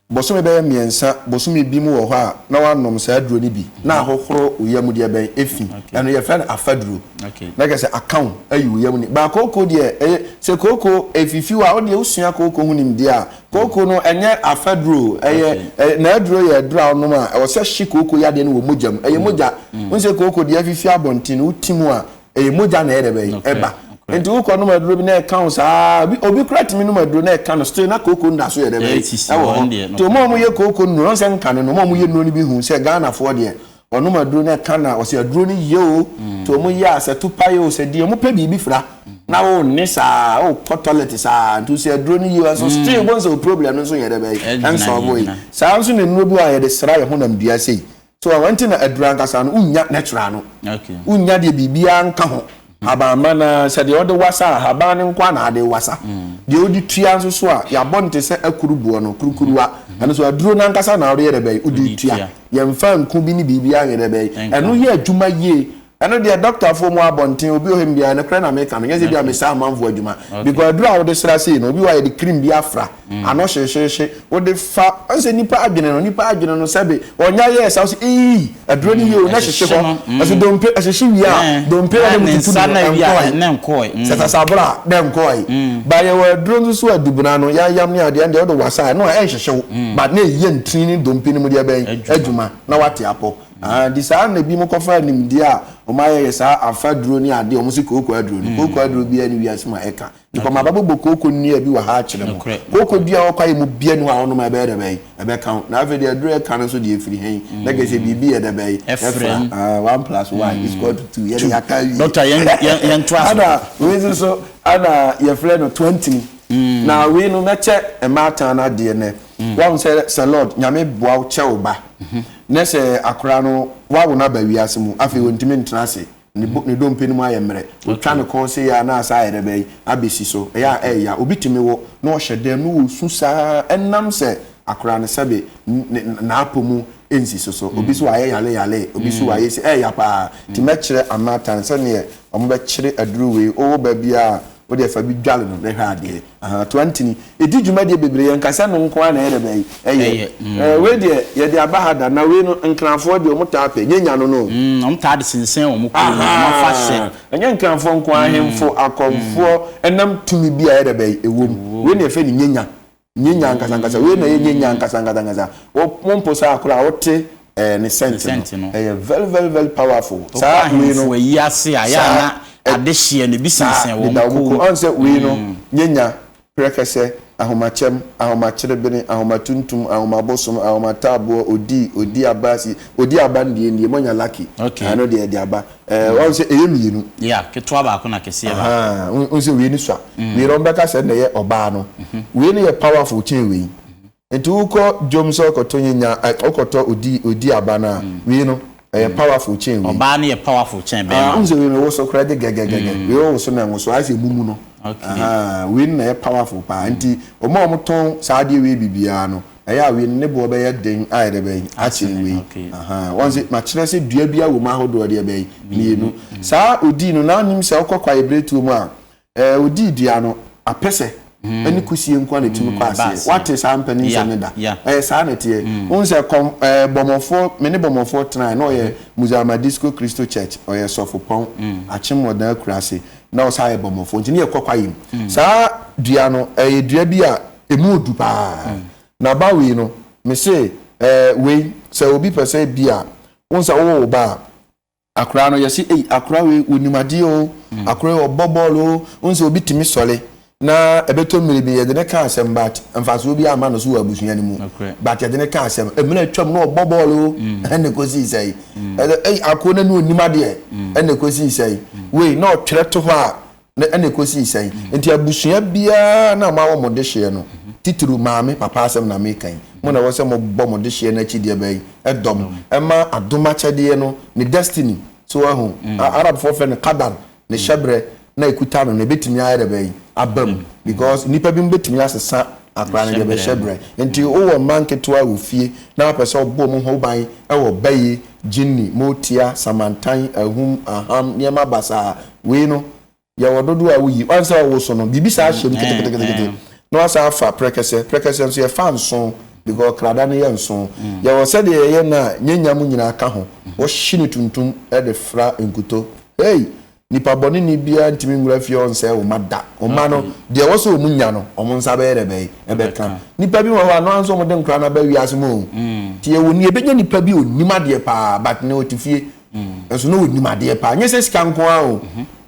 Bosome bɛyɛ mmiɛnsa, bosome bi mu wɔ hɔ a na woanom saa aduro no bi na ahohoro wo yam deɛ bɛn ɛfi ɛno yɛfrɛ no afaduro na kyerɛ sɛ aka wo ayi wo yam ni baa kooko deɛ ɛyɛ sɛ kooko ɛfifi wo a wodeɛ wosua kooko ho nimdeɛ a kooko no ɛnyɛ afaduro ɛyɛ naaduro yɛ aduro a wonom a ɛwɔ sɛ hye kooko yadeɛ no wɔ mogya mu ɛyɛ mogya wonsɛ kooko deɛ afifi abɔnten no woti mu a ɛyɛ mogya na ɛyɛ dɛ bɛyi ɛba nti wokɔ nom aduro bi na ɛka wo saa obi obi kura tumi nom aduro na ɛka no still na kooko nda so yɛ dɛ bɛyi ɛwɔ hɔ nti wɔn a wɔyɛ kooko nnuro ɔnsɛ nka no na wɔn a wɔyɛ nnuro no bi hu sɛ ghanafoɔ deɛ wɔnom aduro na ɛka na ɔsɛ aduro no yie o mm. nti wɔn yɛ a sɛ tupa yɛ o sɛ deɛ wɔn pɛ biribi fira mm. na wɔn nne saa wɔn kɔ toilet saa nti sɛ aduro no yie o nso mm. still wɔn sɛ o problem no nso yɛ dɛ bɛyi ɛnsɔn bɔ yi saa nso na nnuro bi a yɛde sra yɛ honam dua sɛ yi. So ɛno nti na aduru ankasa no wonnya natural no? Okay. Wonnya deɛ biribiara nka ho. Hmm. Haban ma na sɛ deɛ ɔde wasa a haban no nko na ade wasa. Hmm. Deɛ ɔde tua nso so a yɛabɔ no te sɛ akuru boɔ no kurukuruwa. Hmm. Ɛno so aduro no ankasa na ɔde yɛ dɛ bɛyi wode tua. Yɛmfa nku bi ne biribiara nyɛ dɛ bɛyi. Ɛno yɛ adwuma yie Ɛno deɛ dɔktafoɔ mu abɔnten obi wɔ hɔ mbia nokorɛ na meka no nyɛ sɛ bia mesɛ amanfoɔ adwuma because aduro a wode sra sei no obi wɔ hɔ a yɛde cream bi afra ano hyehyeehye wode fa ɔn sɛ nipa adwene no nipa adwene no sɛbe ɔnya yɛɛ sa wosɛ eii aduro no yie o na hyehye hɔ ɛso dompe ɛhyehye wie a dompe na mu tutu no ɛnkɔɔe sɛ sasabra a na ɛnkɔɔe ba yɛwɔ aduro nso so adubena no yayam ne adeɛ ɛndeɛ wode wasa ɛno a ɛnhyehye wo but na ɛyɛ ntini ne dompe no mu deɛ bɛn adwuma na wate apɔ Aane saa ara na binom kɔfaa nimdeɛ a wɔayɛyɛ saa afaduro ne adeɛ a wɔse kooko aduro no. Kooko aduro biara nni wiase mu a ɛka nipa. Mabɛbobɔ kooko nnua bi wɔ ha akyerɛ mo. Kooko dua a ɛwɔ kwaeɛ mu biara nni hɔ a wonom a ɛbɛyɛ dɛ bɛn? Ɛbɛka wo. Na afei deɛ aduro a ɛka no nso deɛ ɛfiri he? Na kyerɛ sɛ biribi yɛ dɛ bɛn? Ɛfra. One plus one is equal to two. Yɛdeɛ yɛaka awie. Doctor, yɛntoa so. Ɛna wei nso so, ɛna yɛfrɛ no toantini. Na wei no, mɛkyɛ mmaatan no adeɛ nnɛ. Wahu sɛ sɛ Lord nyame boa wo kyɛ wo ba ne sɛ akora no wawo no aba wiase mu afei ɔntumi ntena ase ne dompe no mu ayɛ mmerɛ ɔtwa ne kɔn sɛ yɛ a na asa ayɛ dɛ bɛyi abɛsi so ɛyɛ a ɛya obi tumi wo na ɔhyɛ dɛm na ɔsu saa ɛnam sɛ akora no sɛbe n'apɔ mu ɛnsi so so obi so wayɛ yale yale obi so wayɛ si ɛyɛ paa ti mɛkyerɛ amatan sɛdeɛ ɔmo bɛkyere aduru wei ɔwɔ baabi a wo deɛ fa bi dwale no na hwɛ adeɛ aha to antini ɛdi dwumadie bebree yɛ nka sɛ no nko ara na ɛyɛ dɛbɛ ɛyɛ mm. wei deɛ yɛde aba ha da na wei no nkranfoɔ deɛ wɔn taa pɛ nyɛ nya no no mm, wɔn taa de sensɛn wɔn kɔn mu wɔn afa hyɛ ɛnyɛ nkranfoɔ nko ara ahemfo mm. akɔnfoɔ ɛnam tumi bi a ɛyɛ dɛbɛ ɛwɔ mu wei na yɛfɛ ne nyɛ nya Nyenya ankasankasa, wei na ɛyɛ nyenya ankasankasankasa. Wo wo mpo saa koraa wote ɛɛ ne scent no. Scent no. Ɛyɛ very very very powerful. Wokɔ Saa wei no. ahemfo ayi ase a, ɛyɛ a Saa, na ɛ- ade hyeɛ no, ebi Saa sensɛn wɔn deda wɔn kɔn kɔn mu. mu. Ɔn sɛ wei no, nyenya, prɛkɛsɛ, ahomakyɛm, ahomakyerebene, ahomatuntum, ahomabosom, ahomataaboɔ, odii, odiabasi, odiabandiendie, moanya lucky. Okay. Ɛno deɛ ɛde aba. Eh, wɔn sɛ ɛyɛ mmienu. Ya, ketewa baako na kɛseɛ baako. Ahaa, wɔn wɔn sɛ wei ni sua. Mm. Wei na wɔn bɛka sɛ na ɛyɛ ɔbaa no. Mhm. Wei ni yɛ powerful kyɛn wei. Mhm. Nti wokɔ dwom sɛ ɔkɔtɔ nyanya, ɛ, ɔkɔtɔ odi odi aba no a, mm. wei no ɛyɛ mm. powerful kyɛn wei. Ɔbaa no yɛ powerful kyɛn ah, bɛrima. Ah, wɔn sɛ wei na ɛwɔ so koraa de gɛgɛgɛgɛ. Mm. Wei wɔ so na ɛnwo so, ayɛ sɛ emu mu no. Okay. Ahaa, wei na ɛyɛ powerful paa. Mm. Nti wɔn a wɔtɔn saa adeɛ wei bibiara no. ɛyɛ a wien ne boɔ bɛyɛ den a yɛde bɛyi akyene wei. Wɔn se makyerɛ sɛ dua biara wɔ mu ahodoɔ deɛ bɛyi mmienu. Saa odii no na nim sɛ ɔkɔ kwaeɛ biretuo mu a ɛɛ odii dua no apɛsɛ ɛne kusie nko na ɛtumi kɔ aseɛ. Wate saa mpanin sɛm no da? Ɛyɛ saa na ɛteɛ. Wohu sɛ kɔm ɛɛ bɔmɔfoɔ me ne bɔmɔfoɔ tenae na ɔyɛ Muzama Disco Christo Church ɔyɛ sɔfopɔn Akyem Wɔdan Akurase na ɔsan yɛ bɔmɔfoɔ nti ne yɛkɔ kwaeɛ mu. Saa dua no ɛyɛ dua bi a emu odu paa mm. na ba wei no mese ɛɛ eh, wei sɛ obi pɛ sɛ bi a wɔn sɛ wɔwɔ ba a akora no yɛsi eyi akora wei onim adeɛ o mm. akora wei ɔbɔ bɔɔl o wɔn sɛ obi tumi sɔle na ɛbɛtɔ mmiri bi yɛde ne ka asɛm bat mfasoɔ bi ama no so wɔ abusua no mu bat yɛde ne ka asɛm mmerɛ atwam na ɔbɔ bɔɔl o mm. ɛna ɛkɔsi sɛ yi ɛɛ akora no onim adeɛ ɛna ɛkɔsi sɛ yi wei na ɔtwerɛ to hɔ a. Na ɛnna ɛkɔsii sɛn? Enti abusua biara na moawɔ mo dehyeɛ no, titiriw maame, papa asɛm na mereka yi, mo na ɛwɔ sɛ mobɔ mo dehyeɛ no akyi deɛ bɛn? Dɔ no. Ɛma adom akyɛdeɛ no ne destiny, so woahu? Arabfoɔ frɛ no qadar, ne hyɛberɛ na ɛkuta no no, ɛbɛtumi ayɛ deɛ bɛn? Aba mu. Because nnipa binom bɛtumi asesa akora no deɛ bɛn? Hyɛberɛ. Enti wowɔ mma nketewa wɔ fie na wopɛ sɛ wobɔ wɔn ho ban wɔ bae, jinni, motia, samantan, ahum, aham, nneɛma basaa, wei no yɛwɔ dodoɔ a woyi ɔn sɛ ɔwoso no biribi saa hyɛ mu keteketekete na wasan afa prɛkɛsɛ prɛkɛsɛ nso yɛfa nso because krada no yɛ nso yɛwɔ sɛdeɛ yɛyɛ no a nyanya mu nyinaa ka ho wɔhye no tuntum de fra nkuto ei nipa bɔne ni biara ntumi nwura fie ɔn sɛ ɔma da ɔma no deɛ wɔ sɛ ɔmu nya no ɔmo nsa bɛyɛ dɛ bɛyɛ ɛbɛka nipa bi wɔ hɔ a no anso ɔmo de nkora no aba wiase mu o nti yɛwɔ ni ɛbɛnya nipa bi ɔnim adeɛ paa but ne ɔte fie nso na ɔnim adeɛ paa nyɛ sɛ sika nko ara o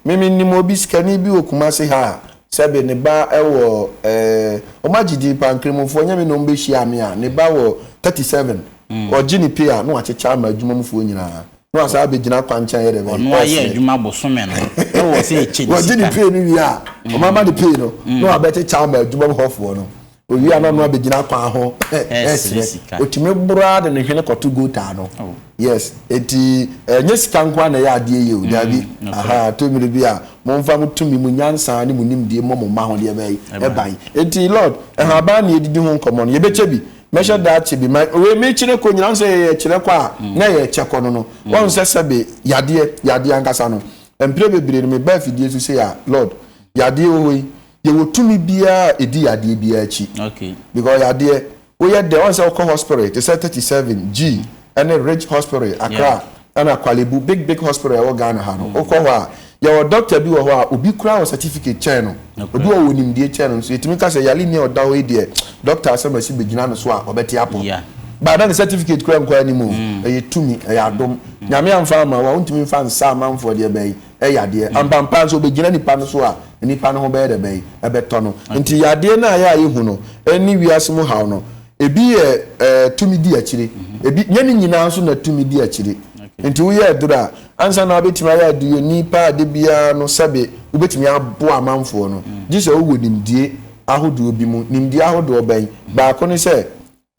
meme nim obi sikani bi wɔ Kumasi ha a sɛbe ne ba wɔ ɛɛ wɔn agye din paa nkramofoɔ nyɛ me na wɔn bɛhyia me a ne ba wɔ thirty seven ɔgye ne pay a na wakyekyɛ ama adwuma mufoɔ nyinaa na wasan abɛgyina kwankyɛn yɛ dɛ bɛyɛ ɔno ayɛ adwuma bosome no na wɔ sɛ ɛkyɛ ne sika wɔgye ne pay no wie a wɔn ama ne pay no na wabɛkyekyɛ ama adwuma mu hɔfoɔ no Owia no ano abegyina kwan ho ɛresrɛ. Otumi boro ara de ne hwene kɔto gota ano. Oh. Yes, eti ɛnyɛ sika nko ara na ɛyɛ adeɛ yɛ o, mm, daabi. Aha, to mmiri bi a, momfa mo tumi, mo nyansa ne mo nimdeɛ mmɔ mo mma ho deɛ bɛyi ɛban. Eti Lord, ɛhaban na yɛdidi ho nkɔmmɔ no, yɛbɛkyɛ bi. Mɛhyɛ mm. daa kyɛ bi. Ma wei mekyerɛ kɔ nyina sɛ yɛyɛ kyerɛ kɔ a mm. na yɛyɛ kyɛ kɔ no no. Wɔn sɛ sɛbe yadeɛ, yadeɛ ankasa no. Mpire bebree no meba afidie so sɛ a Lord, yadeɛ wɔ hɔ yi. Yɛwɔ tumi biara a ɛdi yadeɛ biara akyi because yadeɛ woyɛ dɛ ɔn sɛ wokɔ hospital te sɛ 37 G ɛne Ridge hospital Accra ɛna Korle Bu big big hospital ɛwɔ Ghana ha no wokɔ hɔ a yɛwɔ doctor bi wɔ hɔ a obi koraa wɔ certificate kyɛn no obi wɔ wɔ nimdeɛ kyɛn no nso yɛtumi ka sɛ yare ni a ɔda hɔ yi deɛ doctor asɛm asi bɛgyina no so a ɔbɛte apɔ baa na ne certificate koraa nkɔ anim o ɛyɛ tumi ɛyɛ adom nyame amfa ama wo a wontumi mfa nsa amanfoɔ deɛ bɛyi yɛ adeɛ. Ampampaa nso, ɔbɛgyina nipa no so a nipa no ho bɛyɛ dɛ bɛn? Ɛbɛtɔ no. Nti yadeɛ no a yɛ a yɛhu no ne wiase mu haw no, ebi yɛ eh, tumi di akyire. Ebi, nyɛ ne nyinaa nso na tumi di akyire. Nti woyɛ aduro a, ansa na wobɛtumi ayɛ aduroni pa a da biara no, sɛbe wobɛtumi aboa amanfoɔ no, gye sɛ wowɔ nimdie ahodoɔ bi mu. Nimdie ahodoɔ bɛn? Baako ne sɛ,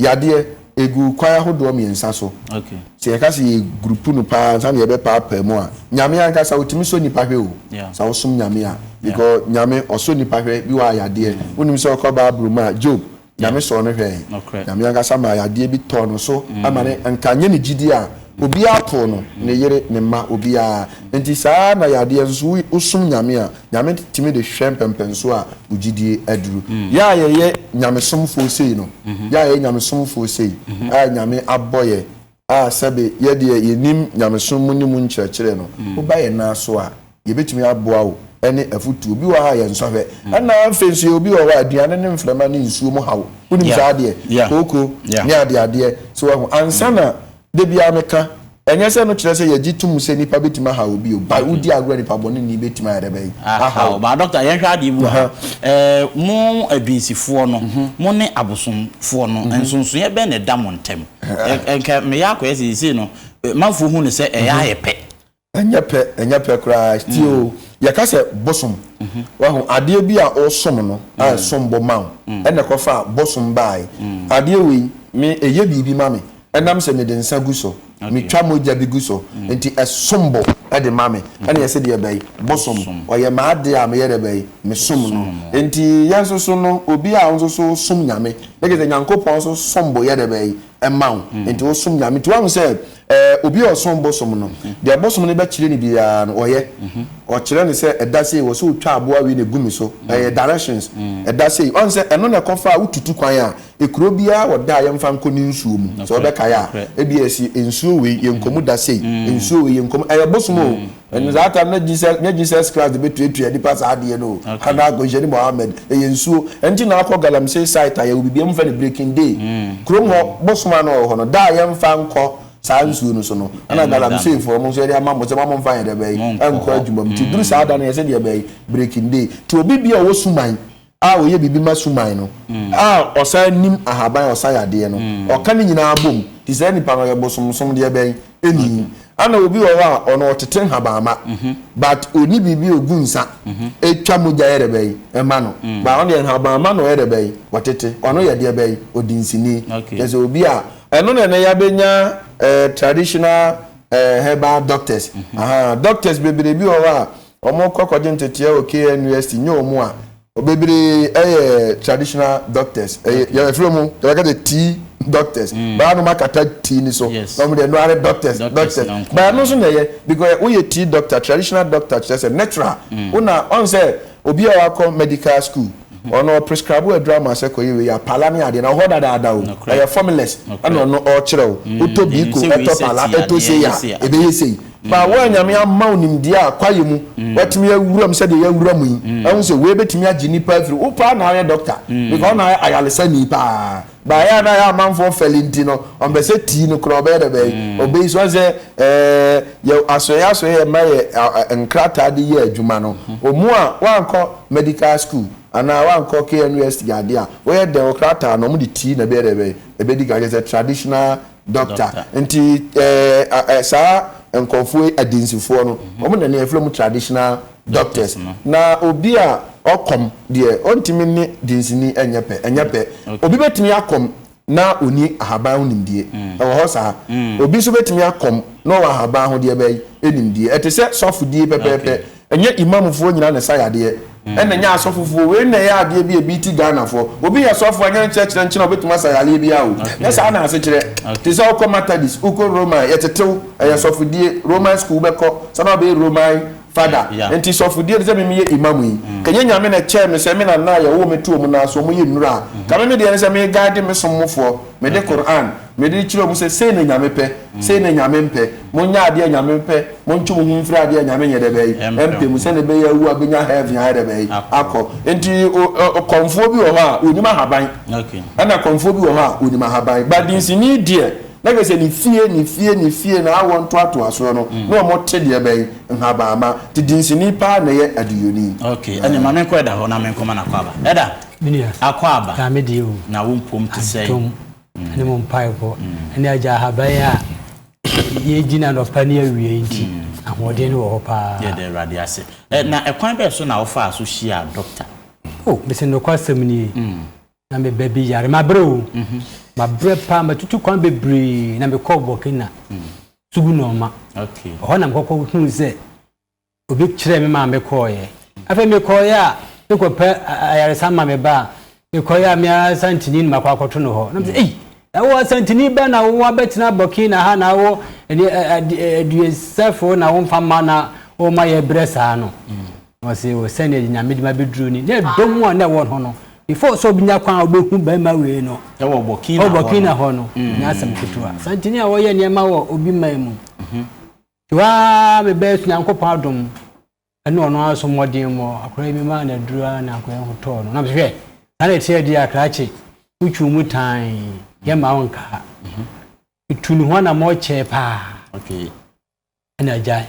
Yadeɛ, ɛgu kwan ahodoɔ mmiɛnsa so. Sɛ yɛka sɛ yɛ group no paa ansa na yɛbɛpaapaa mu a, Nyame ankasa ɔtumi sɔ nnipa hwɛ o, sɛ wosom Nyame a, because Nyame ɔsɔ nnipa hwɛ, bi wɔ hɔ a yadeɛ, wonim sɛ wokɔ Bible mu a, Job, Nyame sɔɔ no hwɛe, Nyame ankasa maa yadeɛ bi tɔɔ no so ama no, anka nyɛ ne gyidie a, obiara too no, ne yere, ne mma, obiara, nti saa ara na yadeɛ nso, wosom Nyame a, Nyame tumi de hwɛ mpɛmpɛnsoɔ a wo gyidie aduru. Yɛ a yɛyɛ nyamesomfoɔ sei no, yɛ a yɛyɛ nyamesomfoɔ sei a Nyame abɔ yɛ a sɛbe yɛ deɛ yɛnim nyamesom mu ne mu nkyerɛkyerɛ no, woba yɛn nan so a, yɛbɛtumi aboa wo ne afutuo. Bi wɔ hɔ a yɛnsɔhwɛ. Ɛna afei nso yɛwɔ bi wɔ hɔ a aduane ne mframa ne nsuo mu ha wo. Wonim saa adeɛ? Kooko ne adeadeɛ. So wahu? Ansa na Da biara meka, ɛnyɛ sɛ ɛno kyerɛ sɛ yɛgye tom sɛ nnipa bɛtumi ahaw obi o, but wodi agorɔ a nipabɔneni bɛtumi ayɛ dɛ bɛn? Ahaw. But Doctor, yɛnhwɛ adeɛ bi wɔ ha. Mo adwinsifoɔ no, mo ne abosomfoɔ no, nsonsonoeɛ bɛn na ɛda mo ntam? Nka meyɛ akɔyɛ sɛ seesei no, manfoɔ hu no sɛ ɛyɛ ayɛ pɛ. Ɛnyɛ pɛ, ɛnyɛ pɛ koraa. Tie o, yɛka sɛ bosom. Wahu, adeɛ bi a wosom no, a ɛsom bo ma wo, ɛna ɛkɔfaa bosom baae. Adeɛ wei, me, ɛyɛ biribi ma me. Ɛnam sɛ mede nsa gu so, metwa mogya bi gu so, nti ɛsom bo de ma me. Ɛna yɛse deɛ bɛn? Bosom. Ɔyɛ m'adeɛ a meyɛ dɛ bɛn? Mesom no. Nti yɛn nso so no, obi a wo nso so wosom Nyame, ne gye sɛ Nyankopɔn nso som bo yɛ dɛ bɛn? ma wo nti wo som Nyame nti wahu sɛ ɛɛ obi a ɔsom bosom no deɛ bosom no bɛkyerɛ no biara no ɔyɛ ɔkyerɛ no sɛ ɛda sei wɔ sɛ otwa aboa wei na egu me so ɛyɛ directions ɛda sei ɔn sɛ ɛno na ɛkɔ fa a wotutu kwan a ekuro biara wɔ da a yɛmfa nkɔ ne nsuo mu sɛ ɔbɛkae a ebi ɛsi nsuo wei yɛnkɔ mu da sei nsuo wei yɛnkɔ mu ɛyɛ bosom o. Ɛno saa tam no Jesus nyɛ Jesus Christ bɛtuatua nipa saa adeɛ no o anaa Nkɔnhyɛni Mohammed ɛyɛ nsuo ɛnti na akɔ Galamsey site a yɛwɔ biribi ɔmo fɛ no Breaking Day kurom hɔ bosom a na ɔwɔ hɔ no da a yɛnfa nkɔ saa nsuo no so no ɛna Galamsey foɔ ɔmo nso yɛde ama mo sɛ mo a monfa yɛdeɛ bɛyi ɛnkɔ adwuma mu nti duru saa da no yɛsɛ deɛ bɛyi Breaking Day nti obi bia ɔwɔ Suman a ɔyɛ biribi ma suman no, a ɔsan nim ahaban a ɔsa yadeɛ no, ɔka ne nyinaa bom nti saa nipa no ɔyɛ bosomsom deɛ bɛn ɛni ana obi wɔ hɔ a ɔno ɔtete nhabanma but ɔni biribi ɔgu nsa ɛtwa mogya yɛ dɛbɛn ɛma no ba ɔno deɛ nhabanma na ɔyɛ dɛbɛn ɔtete ɔno yɛ deɛ bɛn ɔdi nsini kyɛ sɛ obi a ɛno na ɛnɛ yɛabɛnya traditional herbal doctors aha doctors bebree bi wɔ hɔ a Wɔkɔ akɔgye nteteɛ wɔ KNUST nyɛ wɔn a. Bebree yɛ traditional doctors. Ɛyɛ yɛ ɛfiri wɔn yɛbɛka sɛ tea doctors. Mm. Baa nom akata tea ni so. Yes. Na wɔn deɛ ɛno ara ne doctors Doctors doctors. na nko Baa ara. no nso na ɛyɛ because woyɛ tea doctor traditional doctor kyerɛ sɛ natural. Mm. Wona ɔn sɛ obi a wakɔ medical school. Ɔno ɔprescribe aduru ama sɛ kɔyɛ wei a pala ne adeɛ na ɔhɔ dadaada o ɛyɛ formulas ɛna ɔno ɔɔkyerɛ wo wotɔ biiko ɛtɔ pala ɛtɔ sei a ɛbɛyɛ sei baa wo a Nyame ama wo nimdeɛ a kwaeɛ mu watumi awura mu sɛdeɛ yɛawura mu yi ahu sɛ wei bɛtumi agye nipa afiri wo paa na woyɛ doctor because wo na woyɛ ayaresani paa Baayɛ a na yɛ amanfoɔ fɛli nti no, wɔn pɛ sɛ tii no kura ɔbɛyɛ dɛ bɛyi ɔbɛyi so. Wɔn sɛ ɛɛ yɛ asoɛyɛ asoɛyɛ yɛ ma yɛ nkrataa de yɛ adwuma no. Wɔn a wɔn ankɔ medical school anaa wɔn ankɔ KNUST yɛ adeɛ a, wɔyɛ dɛn wɔn krataa no wɔn de tii na ɛbɛyɛ dɛ bɛyi ɛbɛdi kan kyerɛ sɛ traditional. Dɔkta, nti ɛɛ saa nkorɔfoɔ yi adansifoɔ no, wɔn na ne yɛfrɛ mu traditional doctors no. Na obi a ɔkɔm deɛ ɔntumi ne dansini nyɛ pɛ, ɛnyɛ pɛ. Obi bɛtumi akɔm na ɔnni ahaban ho nimdie, ɛwɔ hɔ saa. Obi nso bɛtumi akɔm na ɔwɔ ahaban ho deɛ bɛn? Nimdie. Ɛte sɛ sɔfodie pɛpɛɛpɛ. Ɛnyɛ Imam foɔ nyinaa na ɛsa yadeɛ, ɛna ɛnyɛ asɔfo foɔ wei na ɛyɛ adeɛ bi a ɛbi ti Ghana foɔ. Obi yɛ sɔfo a ɛnyɛ ne kyerɛkyerɛ nkyɛn a ɔbɛtumi asa yareɛ biara o. Ɛnyɛ saa na ase kyerɛ. Te sɛ wokɔ Matadis, wokɔ Roman, yɛtetew, ɛyɛ sɔfodie, Roman school wobɛkɔ, sɛ na wobɛyɛ Roman Fada. Nti sɔfodie te sɛ me meyɛ Imam yi, ka ɛnyɛ Nyame na ɛkyɛɛ me sɛ me nana a yɛwoo me too wɔn nan ase wɔn yɛ nnura a, ka me me deɛ ne sɛ me guide me som mo foɔ, me de Qur'an, Mede rekyerɛ wɔn sɛ, sei na Nyame pɛ, sei na Nyame mpɛ. Monyɛ adeɛ a Nyame pɛ, montwe mo ho mfiri adeɛ a Nyame nyɛ dɛbɛn? Ɛmpɛ mu, sɛdeɛ ɛbɛyɛ a awu a bɛnya heaven ayɛ dɛbɛn? Akɔ. Nti kɔmfoɔ bi wɔ hɔ a, ɔnim ahaban. Ɛna kɔmfoɔ bi wɔ hɔ a, ɔnim ahaban. But dinsini deɛ, na kyerɛ sɛ ne fie, ne fie, ne fie, na awɔ ntoatoasoɔ no, na wɔte deɛ bɛn? Nhabanma. Nti dinsini paa na ɛyɛ aduyoni. Ok, ɛnneɛ ma menkɔ Ɛda hɔ na menkɔma no Akwaaba. Ɛda, Akwaaba, na wo mpom te sɛn? ne mo mpaebɔ ne agya ahaban a yɛgyina nɔpa ne awie nti ahoɔden no wɔ hɔ paa yɛde awurade ase na ɛkwan bɛɛ so na wofaa so hyia dɔkta o mesɛ nokwasɛm nie na meba bi yare mabrɛ o mhm. mabrɛ paa matutu kwan bebree na mekɔɔ burkina sugu nɔɔma ɛhɔ na mekɔkɔ huu sɛ obi kyerɛɛ me maa mekɔeɛ. Afei mekɔeɛ a mekɔpɛ ayaresa ma me ba a, mekɔeɛ a me ara Santini na makɔ akɔto no hɔ. Na mesɛ, ei, ɛwɔ Santini ba na wo abɛtena Burkina ha na wo aduosɛfoɔ na womfa mma na woma yɛbrɛ saa no? Ɔse, o sɛdeɛ Nyame de me abɛduru ni. Na ɛdɔ mu a na ɛwɔ hɔ no, before sɛ ɔbɛnya kwan a ɔbɛhu barima wei no, ɛwɔ Burkina hɔ no, ɛnyɛ asɛm ketewa. Santini a ɔyɛ nneɛma wɔ obi man mu. Yo aa me best Nyankopɔn adom ɛne ɔno ara so mmɔden mɔ akora yi me maa no aduru aa na akora yi ho tɔɔ no na me hwɛ saa na ɛteɛ deɛ a krakye wo twiw mu tan yɛ mma wo nkaa me tu ne ho anamɔ kyɛɛ paa ɛna agya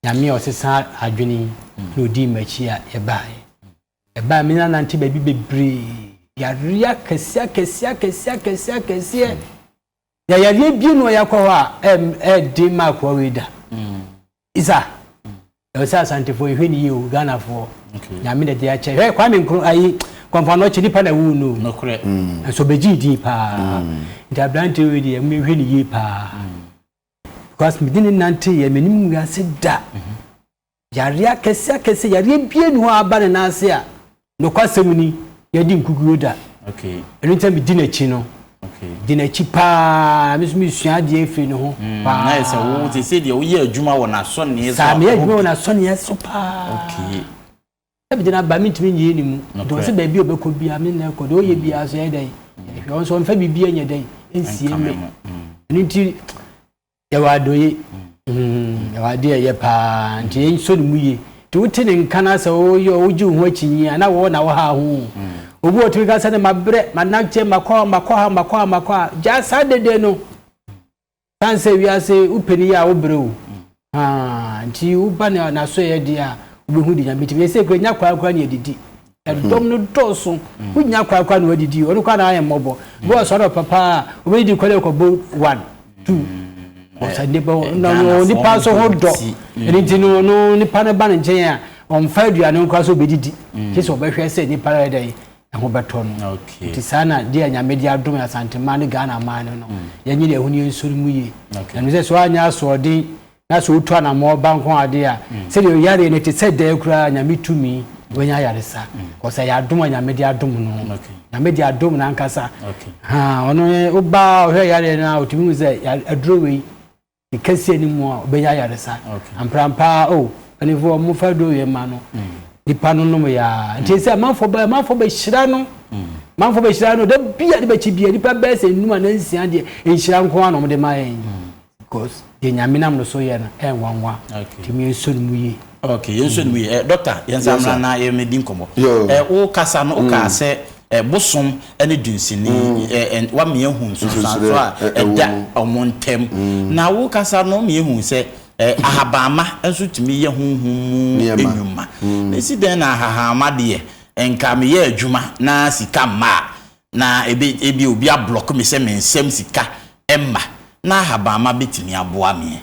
nyame a ɔsesa adwene na ɔdii m'akyi a yɛbaeɛ ɛbaeɛ me na nante baabi bebree yareɛ akɛseɛ akɛseɛ akɛseɛ akɛseɛ akɛseɛ Yɛ yadeɛ bie no ɔyɛ kɔ hɔ a ɛɛden ma akoa wei da. Mm. Isa. Mm. Ɛwɔ sɛ asantefoɔ yɛhwɛ ne yie o Ghanafoɔ. Okay. Nyame na de akyɛ. Hwɛ Kwame Nkro ayi kɔmfano ɔkyɛ nipa na wuu no. Nokorɛ. Mm. Nso bɛgye din paa. Mm. Nti aberanteɛ wei deɛ mehwɛ ne yie paa. Mm. Because mede ne nante yɛ menim wiase da. Mm -hmm. Yareɛ akɛseɛ akɛseɛ yareɛ bia nni hɔ a aba ne nan ase a nokwasɛm ni yɛde nkukuo da ɛno nti na medi n'akyi no di n'akyi paa me nso mesua adeɛ afiri ne ho mm, paa na ɛsɛ wo te sɛ deɛ woyɛ adwuma wɔ n'asɔnneɛ so saa meyɛ adwuma wɔ n'asɔnneɛ so paa okay ɛbɛdi na ba mentumi nyɛ ne mu nti ɔsɛ baabi a ɔbɛkɔ bia me na ɛkɔ deɛ ɔyɛ mm. bia so yɛ dɛn ɛhwɛ ɔnso ɔmfa biribi nyɛ dɛn ɛnsie me mm. ɛno nti Yɛwɔ adɔeɛ, mm, yɛwɔ adeɛ a ɛyɛ paa, nti yɛn sɔ ne mu yie. Nti wote ne nka no sɛ woyɛ o, wogye wo ho akyinnye a, na wɔwɔ na wɔha ho. Obi wɔ tumi ka sɛ ne mabrɛ, manakyeɛ, makɔ ha, makɔ ha, makɔ ha, makɔ ha. Gyaa saa dede no. San sɛ wiase wopɛ ne yie a wobrɛ o. Haa, nti woba ne n'asoɛyɛ deɛ a, wobɛhu de nyame tumi. Yɛsɛ kura nya kwaa kura ne adidi. Ɛdɔm no dɔɔso. Mm. Wonya kwa kwa na wadidi. Ɔno kwa na ayɛ mmɔbɔ. Bi wɔ sɔrɔ papa a obedidi kwa dɛ kɔbɔ one two. Mm. Ɔsɛ nipa eh, na no nipa nso ho dɔ. Mm. Ɛne nti no no nipa no ba ne nkyɛn a ɔmfa aduane nkora so obedidi. Kyɛ sɛ ɔbɛhwɛ sɛ nipa no yɛ dɛ ɛho bɛtɔ no. Nti saa na deɛ a nyame de adom asantema ne Ghana man no no. Yɛnye deɛ ɛho ne yɛnsɔre mu yie. Ɛno sɛ so anyɛ asoɔden Na sɛ wotu anammɔn ba nko ade a, sɛdeɛ ɔyareɛ no ɛte sɛ dɛɛ koraa a, Nyame tumi, wanya ayaresa, cos ɛyɛ adom a Nyame de adom no, Nyame de adom no ankasa, haa, ɔno ne, woba a ɔhwɛ yareɛ no a, ɔtumi hu sɛ, aduro wei, ne kɛseɛ no mu a, ɔbɛnya ayaresa, amprampa ara, oh, mpanifoɔ ɔmo fa aduro wei ma no, nipa no nom yɛ a, nti ɛsɛ amanfoɔ ba, amanfoɔ bɛhyira no, amanfoɔ bɛhyira no, da bi a de bɛkyi bia, nipa bɛyɛ sɛ nnum anaa nsia deɛ, nhyira nko ara na ɔmo de ma yɛn. Because deɛ nyame nam no so yɛ no ɛnwanwa nti mi yɛnsɔ ne mu yie. Okay yɛnsɔ ne mu yie. Dɔkta yɛnsa mmra na yɛmɛdi nkɔmmɔ. Wo kasa no wokaa sɛ bosom ne dunsini wama yɛahu nsunsuansoɔ a ɛda wɔn ntam. Na wo kasa no woma yɛhu sɛ ahabanma nso tumi yɛ honhom mu nnwuma. Mesi dɛn na ahahanma deɛ nka meyɛ adwuma na sika mma a Na ebe, ebia obi ablɔke me sɛ mensɛm sika mma, na ahabamma betumi aboa me.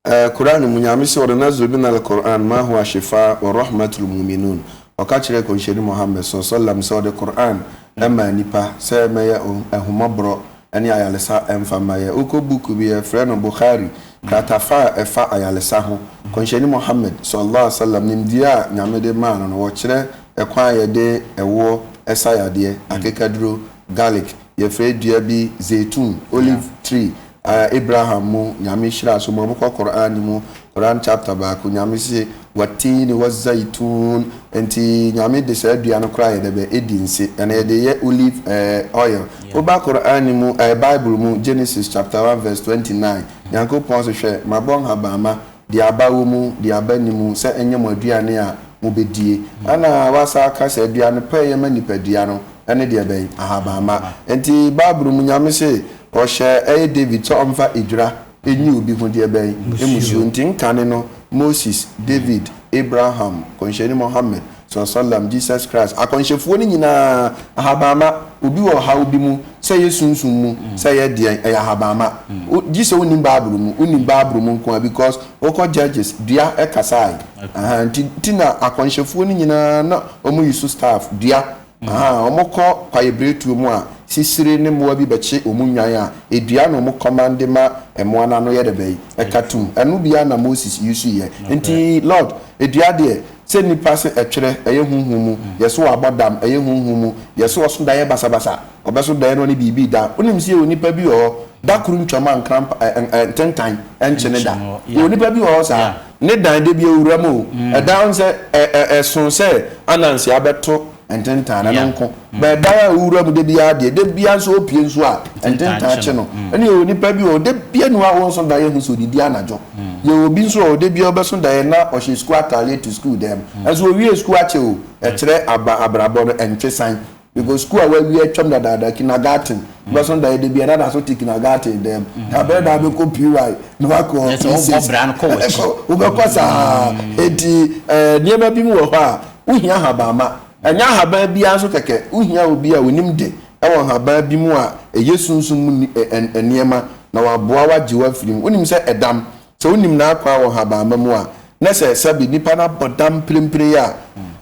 Ɛɛ Qur'aan no mu, Nyame se, Wanunazzilu mina Al-Qur'aan maa huwa shifaa wa rahmat lil mu'minuun, Ɔka kyerɛɛ Kɔnhyɛni Muhammad saw sallam sɛ ɔde Qur'aan maa nnipa sɛ ɛmɛyɛ ahummɔborɔ ne ayaresa mfa mma yɛ. Wokɔ book bi yɛfrɛ no Bukhari kratafa a ɛfa ayaresa ho, Kɔnhyɛni Muhammad saw sallam nimdeɛ a Nyame de maa no no wɔkyerɛ Ɛkwan a yɛde ɛwoɔ sa yadeɛ, akekaduro, garlic, yɛfrɛ dua bi zeitun, olive tree, a Abraham mu Nyame hyiraa so ma mokɔ Qur'aan no mu Qur'aan chapter baako Nyame se wattiini wazaituun nti Nyame de saa dua no koraa yɛ dɛbɛ edi nse ɛna yɛde yɛ olive eh oil woba Qur'aan no mu eh Bible mu Genesis chapter one verse twenty nine Nyankopɔn se hwɛ mabɔ nhabamma Deɛ aba wɔ mu, deɛ aba nni mu, sɛ ɛnyɛ mo aduane a mobɛdie. Ɛna wasan aka sɛ, aduane pa a ɛyɛ ma nipadua no, ɛne deɛ bɛn? Ahabamma. Enti Bible mu Nyame se, ɔhyɛ ɛyɛ David sɛ ɔmfa edwira nyi obi ho deɛ bɛn? Mmusuo. Nti nkane no, Moses, David, Abraham, Nkɔnhyɛni Mohammed, Salaasalam, Jesus Christ, akɔnhyɛfuo no nyinaa, ahabanma, obi wɔ ɔhaw bi mu, sɛ ɛyɛ sunsum mu, sɛ ɛyɛ deɛn, ɛyɛ ahabanma. Wo, gye sɛ wonim Bible mu, wonim Bible mu nko ara because wokɔ Judges, dua ɛkasae, ahaa, nti, nti na akɔnhyɛfuo no nyinaa na wɔyi so staff, dua. Ahaa, wɔkɔ kwaebiretuo mu a, sisire ne mmoa bi bɛkye wɔn nnwan a, dua na wɔn kɔman de ma mmoa no ano yɛ dɛ bɛn? Ɛka tum. Ɛno bi ara na Moses usuiɛ. Enti, Lord, dua deɛ, sɛ nnipa se ɛtwerɛ, ɛyɛ honhom mu, yɛse wɔabɔ dam, ɛyɛ honhom mu, yɛse ɔso daeɛ basabasa, ɔbɛso daeɛ na ɔne biribi reda, wonim se yɛwɔ nnipa bi wɔ hɔ, Da koro ntwam a nkrampa ɛ ɛ ɛ ntentan nnkye ne da. Yɛwɔ nipa bi wɔ hɔ saa, ne dan da bi awura mu o, ɛdan ho sɛ ɛ ɛ ɛso sɛ ananse abɛto ntentan no, ɛno nko. But dan a owura mu da biara deɛ, da biara nso opue nso a, ntentan kye no. Ɛna yɛwɔ nipa bi wɔ hɔ, da biara nni hɔ a wonso daeɛ hu sɛ odidi anadwo. Yɛwɔ obi nso wɔ hɔ, da biara wobɛso daeɛ na ɔhyɛ sukuu ataadeɛ te sukuu dan mu. Nanso owie sukuu akyɛ o, ɛkyerɛ aba abrabɔ no, ɛntwe san. Mekɔ sukuu a wɔawie atwam dadaada, kindergarten. Wobɛso no dayɛ da biara na daso te kindergarten dan mu. Na bɛrɛ na wobɛkɔ PY na wakɔ P6. Ɛkɔ, wobɛkɔ saa. Enti ɛɛ nneɛma bi mu wɔ hɔ a, wohia ahabamma. Ɛnyɛ ahaban biara nso kɛkɛ. Wohia obi a onim de wɔ nhaban bi mu a ɛyɛ sunsum mu nneɛma na waboa wo agye wo afiri mu. Wonim sɛ ɛdam, Sɛ wonim n'akwan wɔ nhabamma mu a, na sɛ ɛsa bi, nnipa no abɔ dam mprempren yi a,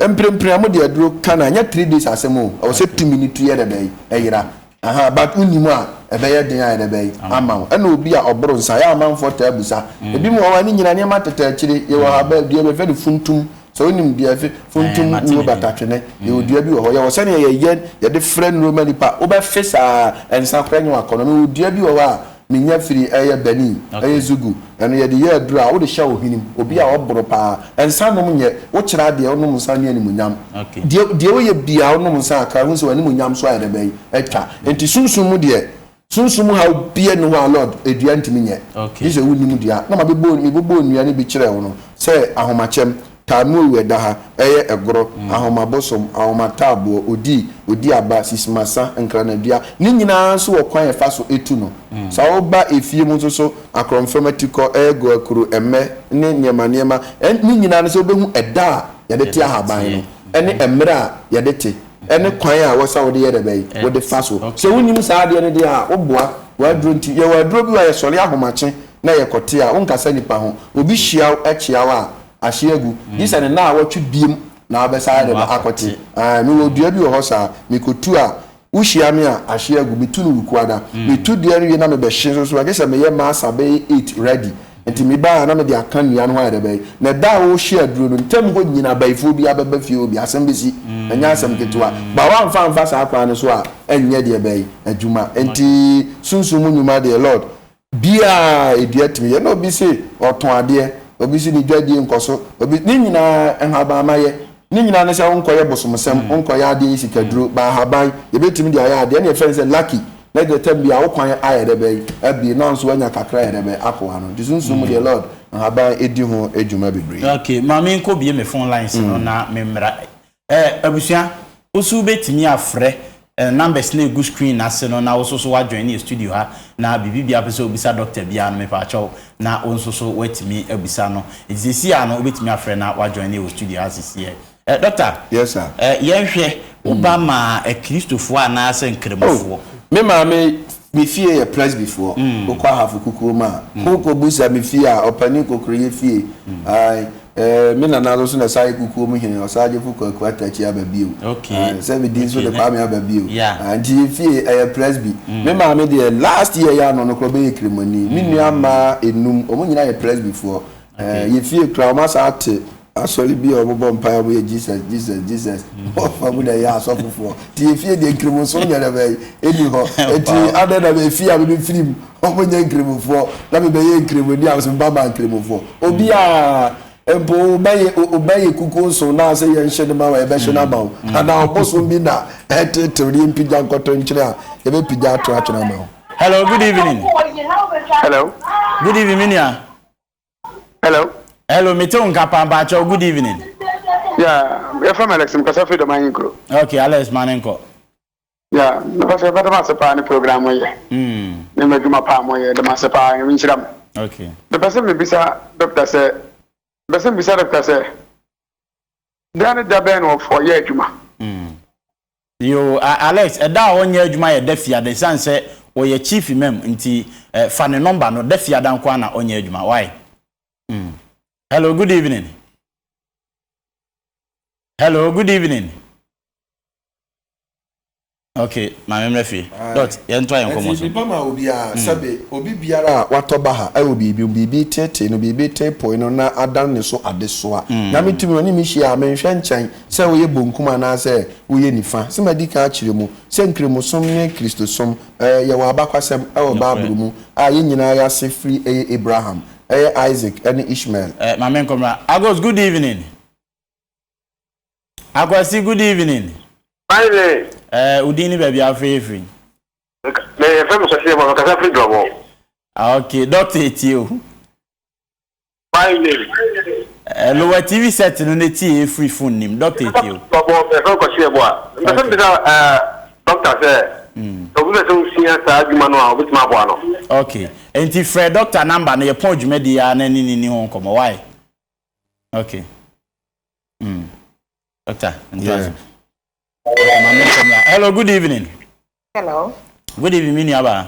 mprempren a mode aduro ka no a, ɛnyɛ three days asɛm o, ɛwɔ sɛ tumi no tu yɛ dɛ bɛn, ɛyera. Ahaa, but wonim a, ɛbɛyɛ den ayɛ dɛ bɛn, ama wo. Ɛna obi a ɔboro nsa, ɛyɛ a amanfoɔ taa bisa, ebinom wɔ hɔ a, ne nyinaa nneɛma tete akyire, yɛwɔ haba, dua bi, yɛfrɛ no funtum, sɛ wonim dua, yɛfrɛ funtum wuo batatwene, yɛwɔ dua bi wɔ hɔ, yɛwɔ sɛdeɛ yɛyɛ, yɛde frɛ nnuroma nipa, wobɛfe saa a, nsa koraa nyɛ w'akɔnnɔ, mewɔ dua bi wɔ hɔ a, Me nya firi ɛyɛ Benin ɛyɛ zugu ɛno yɛde yɛ aduro a wode hyɛ wo hwenem obi a ɔboro paa nsa nom nyɛ wo kyerɛ adeɛ wonom nsa ne animuonyam deɛ deɛ woyɛ biaa wonom nsa kakra hu sɛ w'animuonyam so ayɛ dɛ bɛn atwa nti sunsum mu deɛ sunsum mu haw biaa nni hɔ a Lord adua ntumi nyɛ gye sɛ wonim dua na mabɛbɔ mebobɔɔ nnua no bi kyerɛɛ wo no sɛ ahomakyɛm Talmud wɔ ɛda ha, ɛyɛ ɛgorɔ, ahoma bosom, ahoma taaboɔ, odi, odi aba, sisimasa, nkranadua, ne nyinaa nso wɔ kwan a ɛfa so tu no. Sa woba efie mu nso so, akorɔmfrɛm atikɔ, ɛɛgo akuro, ɛmmɛ, ne nneɛma nneɛma, ɛ, ne nyinaa no sɛ wobɛhu ɛda a yɛde te ahaban no, ɛne ɛmmerɛ a yɛde te, ɛne kwan a wɔ sɛ wode yɛ dɛ bɛn, wode fa so. Sɛ wonim saa adeɛ no deɛ a, woboa. W'aduro nti, yɛwɔ aduro bi wɔ ha, yɛsɔre ahomakye na yɛkɔte a, wonnkasa nnipa ho. Obi hyia wo, kyea wo a, ahye agu gye sɛ ne naawɔtwe biom na wobɛsan de no akɔte ae mewɔ dua bi wɔ hɔ saa mekɔtu a wohyia me a ahye agu metu no wukuada metu dua no wie na mebɛhye nso so a gye sɛ meyɛ masa bɛyɛ eight ready nti meba a na mede aka nnua no ho ayɛ dɛ bɛyɛ na ɛda a wɔrehye aduro no ntam hɔ nyina abayifoɔ bi abɛba fie hɔ bi asɛm bɛsi ɛnyɛ asɛm ketewa ba woamfa amfa saa kwan no so a ɛnyɛ deɛ bɛyɛ adwuma nti sunsum mu nnwuma deɛ Lord biaa ɛdi atumi yɛ na obi se ɔtɔn adeɛ obi se ne dwadie nkɔso obi ne nyinaa nhaban ma yɛ ne nyinaa ne sɛ wo nkɔyɛ bosomsɛm wo nkɔyɛ adeɛ yi sika duro ba ahaban yɛbɛtumi de ayɛ adeɛ ɛne ɛfɛ ne sɛ lucky na deɛ tam biaa wo kwan ayɛ dɛ bɛyi abie nanso wanya kakra yɛ dɛ bɛ ako ano nti sunsum mu deɛ lord nhaban ɛdi ho adwuma bebree. Okay maame nkɔ bie me phone lines no na me mmra. Eh abusua woso wobɛtumi afrɛ eh numbers no a ɛgu screen no ase no na woso so woajoine yɛ studio ha na biribi biara wopɛ sɛ wobisa doctor biara no mepaakyɛw na wonso so woatumi abisa no nti sesei ara no wobɛtumi afrɛ na woajoine yɛ wɔ studio ha sesei ara eh doctor Yes sir. eh yɛnhwɛ wo ba ma eh kristofoɔ anaasɛ nkramofoɔ. Oh me maame. Me fie yɛ Presbyfoɔ wokɔ ahafo kukuo mu a ho kɔ busa me fie a ɔpanin kokoro yɛ fie ae ɛɛ me nana nso na ɛsan yɛ kukuo mu hene ɔsagyefo kwaku atakyi aba bio ae sɛ me din nso de kwame aba bio ae nti yɛ fie ɛyɛ Presby me maame deɛ last year yɛ ano no korɔ bɛyɛ kramoni me nua mmaa enum wɔn nyinaa yɛ Presbyfoɔ ɛɛ yɛ fie koraa wɔn asan ate Asɔre bi a ɔmo bɔ mpae a ɔmo yɛ Jesus Jesus Jesus wɔ fa mu na ɛyɛ asɔfo foɔ ti efie deɛ nkremosom nyɛ dɛ bɛyi ɛni hɔ ɛti adɛ na efie a mede firi mu ɔmo nyɛ nkremofoɔ na me bɛyɛ nkremo ni a ɔsɛ me ba ma nkremofoɔ obi a mpo ɔbɛyɛ ɔbɛyɛ kukuo nson na ɔsɛ yɛn hyɛ ne ma wa ɛbɛhyɛ no ama wo ana ɔbosom bi na ɛtetew ne mpigya nkɔtɔ nkyɛn a ɛbɛ pigya ato atwene ama wo. Hello, good evening. Hello. Good evening, minia. Hello. Hello, mete wo nka paa mpakyɛw, good evening. Yeah, yɛfrɛ me Alex, mekasa firi Dɔm Ahen Kuro. Okay, Alex, ma ne nkɔ. Yeah, mepɛ sɛ mɛdɔm ase paa ne program mo yɛ. Mm. Ne mo adwuma paa mo yɛ, dɔm ase paa, nyame nhyira mo. Okay. Mepɛ sɛ mebisa dɔkta sɛ, mepɛ sɛ mebisa dɔkta sɛ, da ne da bɛn na ɔyɛ adwuma? Mm. Yoo ah Alex ɛda a ɔnyɛ adwuma yɛ da fiada ɛsiane sɛ ɔyɛ chief imam nti eh fa ne number no da fiada nko ara na ɔnyɛ adwuma why mm hello good evening hello good evening ok maame mmerɛ fie dot yɛn to ayɛ nkɔmɔ so. ɛnti bipa ma obiara mm. sɛbe obi biara a watɔ ba ha ɛwɔ biribi biribi tete no biribi te poe no na adan ne so adesoa mm. nyame tumi ɔne me hyia a menhwɛ nkyɛn Sɛ woyɛ bonkum anaasɛ woyɛ nifa. Sɛ madi kan akyerɛ mu sɛ Nkramosom ne Kristosom yɛwɔ abakwasɛm wɔ Bible mu a yɛn nyinaa yɛn ase firi yɛ Abraham, yɛ Isaac ne Ishmael. Eh, ma menkɔ mmra. Agos, good evening. Akwasi, good evening. Fine. Eh, wo din ne baabi a wofrɛ yɛ firi? Meyɛ fɛ me sɔseɛ bɔ, mekasa firi Dwabɔ. Ah, okay. Doctor etie o. By name. Eh lower TV set no ne tie efiri phone nim doctor etie o. Doctor bɔ bɛfrɛ no Kwasi Ɛboa. Mpɛsɛ me bisa eh doctor sɛ obi pɛ sɛ osua saa adwuma no a obetumi aboa no. Ok nti frɛ doctor number no yɛ pɔn dwumadi yi ara na ne ne ni ho nkɔmɔ wai ok mm doctor ntoa so. Hello good evening. Hello. Good evening me nua baa.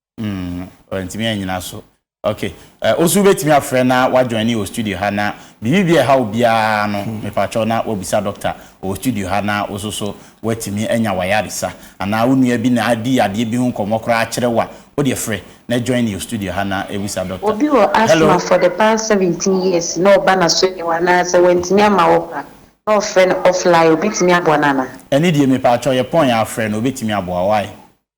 Mm, ntumi anyina so. Ok, eh, osu betumi afrɛ na wajoine wɔ studio ha na biribi bi ɛha obiara no, hmm. mepakyɛw na wabisa dɔkta wɔ studio ha na woso so watumi anya wayaresa anaa wo nua bi na adi adeɛ bi ho nkɔmmɔ koraa akyerɛ wo a, wodeɛ frɛ na join yɛ studio ha na ebisa dɔkta. Obi wɔ asthma for the past seventeen years na ɔba na so yɛ anaa sɛ wantumi ama wɔ kwa na ɔfrɛ no offline, obetumi aboa no anaa? Ɛne deɛ mepakyɛw yɛ pɔn yɛ afrɛ no obetumi aboa wae.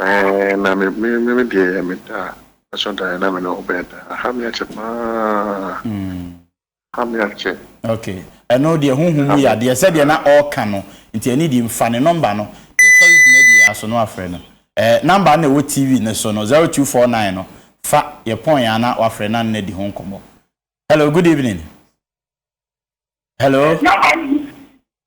Eeh na me me me me deɛ me da ɛsɔ dan na me ne wo bɛɛ da aha me akyɛ paa ha me akyɛ. Okay ɛno deɛ ho hu mu yɛ adeɛ sɛdeɛ na ɔɔka no nti ɛne deɛ mfa ne number no yɛsɔre dwumadie yɛ aso no wafrɛ no ɛɛ number no na ɛwɔ TV no so no zero two four nine no fa yɛ pɔn yɛ ana wafrɛ na ne di ho nkɔmɔ hello good evening hello.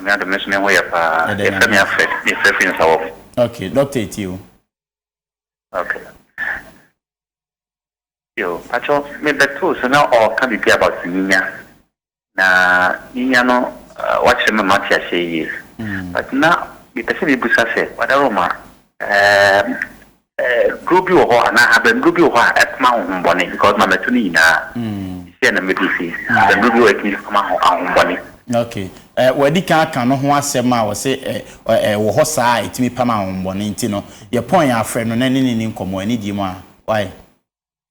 Nyame adom me nso me ho yɛ paa. Yɛfrɛ me Alfred, me frɛ firi Nsawɔm. Ok, Doctor etie o. Ok. Yo, pakyɛ me bɛ too so na ɔɔka bibi about nyinya. Na nyinya no wakyerɛ me mate aseɛ yie. But na me pɛ sɛ me busa sɛ, Brother Roma, eh. Duro bi wɔ hɔ anaa ahabanduro bi wɔ hɔ a ɛpoma ahohombɔne because ma mɛto ne nyinaa sisiɛ na mɛdu fi ahabanduro bi wɔ hɔ a ɛtumi poma ahohombɔne. Okay eh, wadi kan aka no ho asɛm a ɔse eh, ɛwɔ hɔ saa a ɛtumi pam ahohombɔne nti no yɛpɔn yɛn afrɛ no na ɛne ne ni nkɔmmɔ anidie mu a why?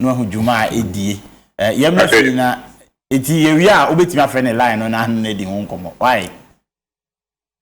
na wahu dwuma a ɛdie yɛ mmerɛ fii na ɛti yɛwie a wobɛtumi afrɛ ne line no na ahene no adi ho nkɔmmɔ wae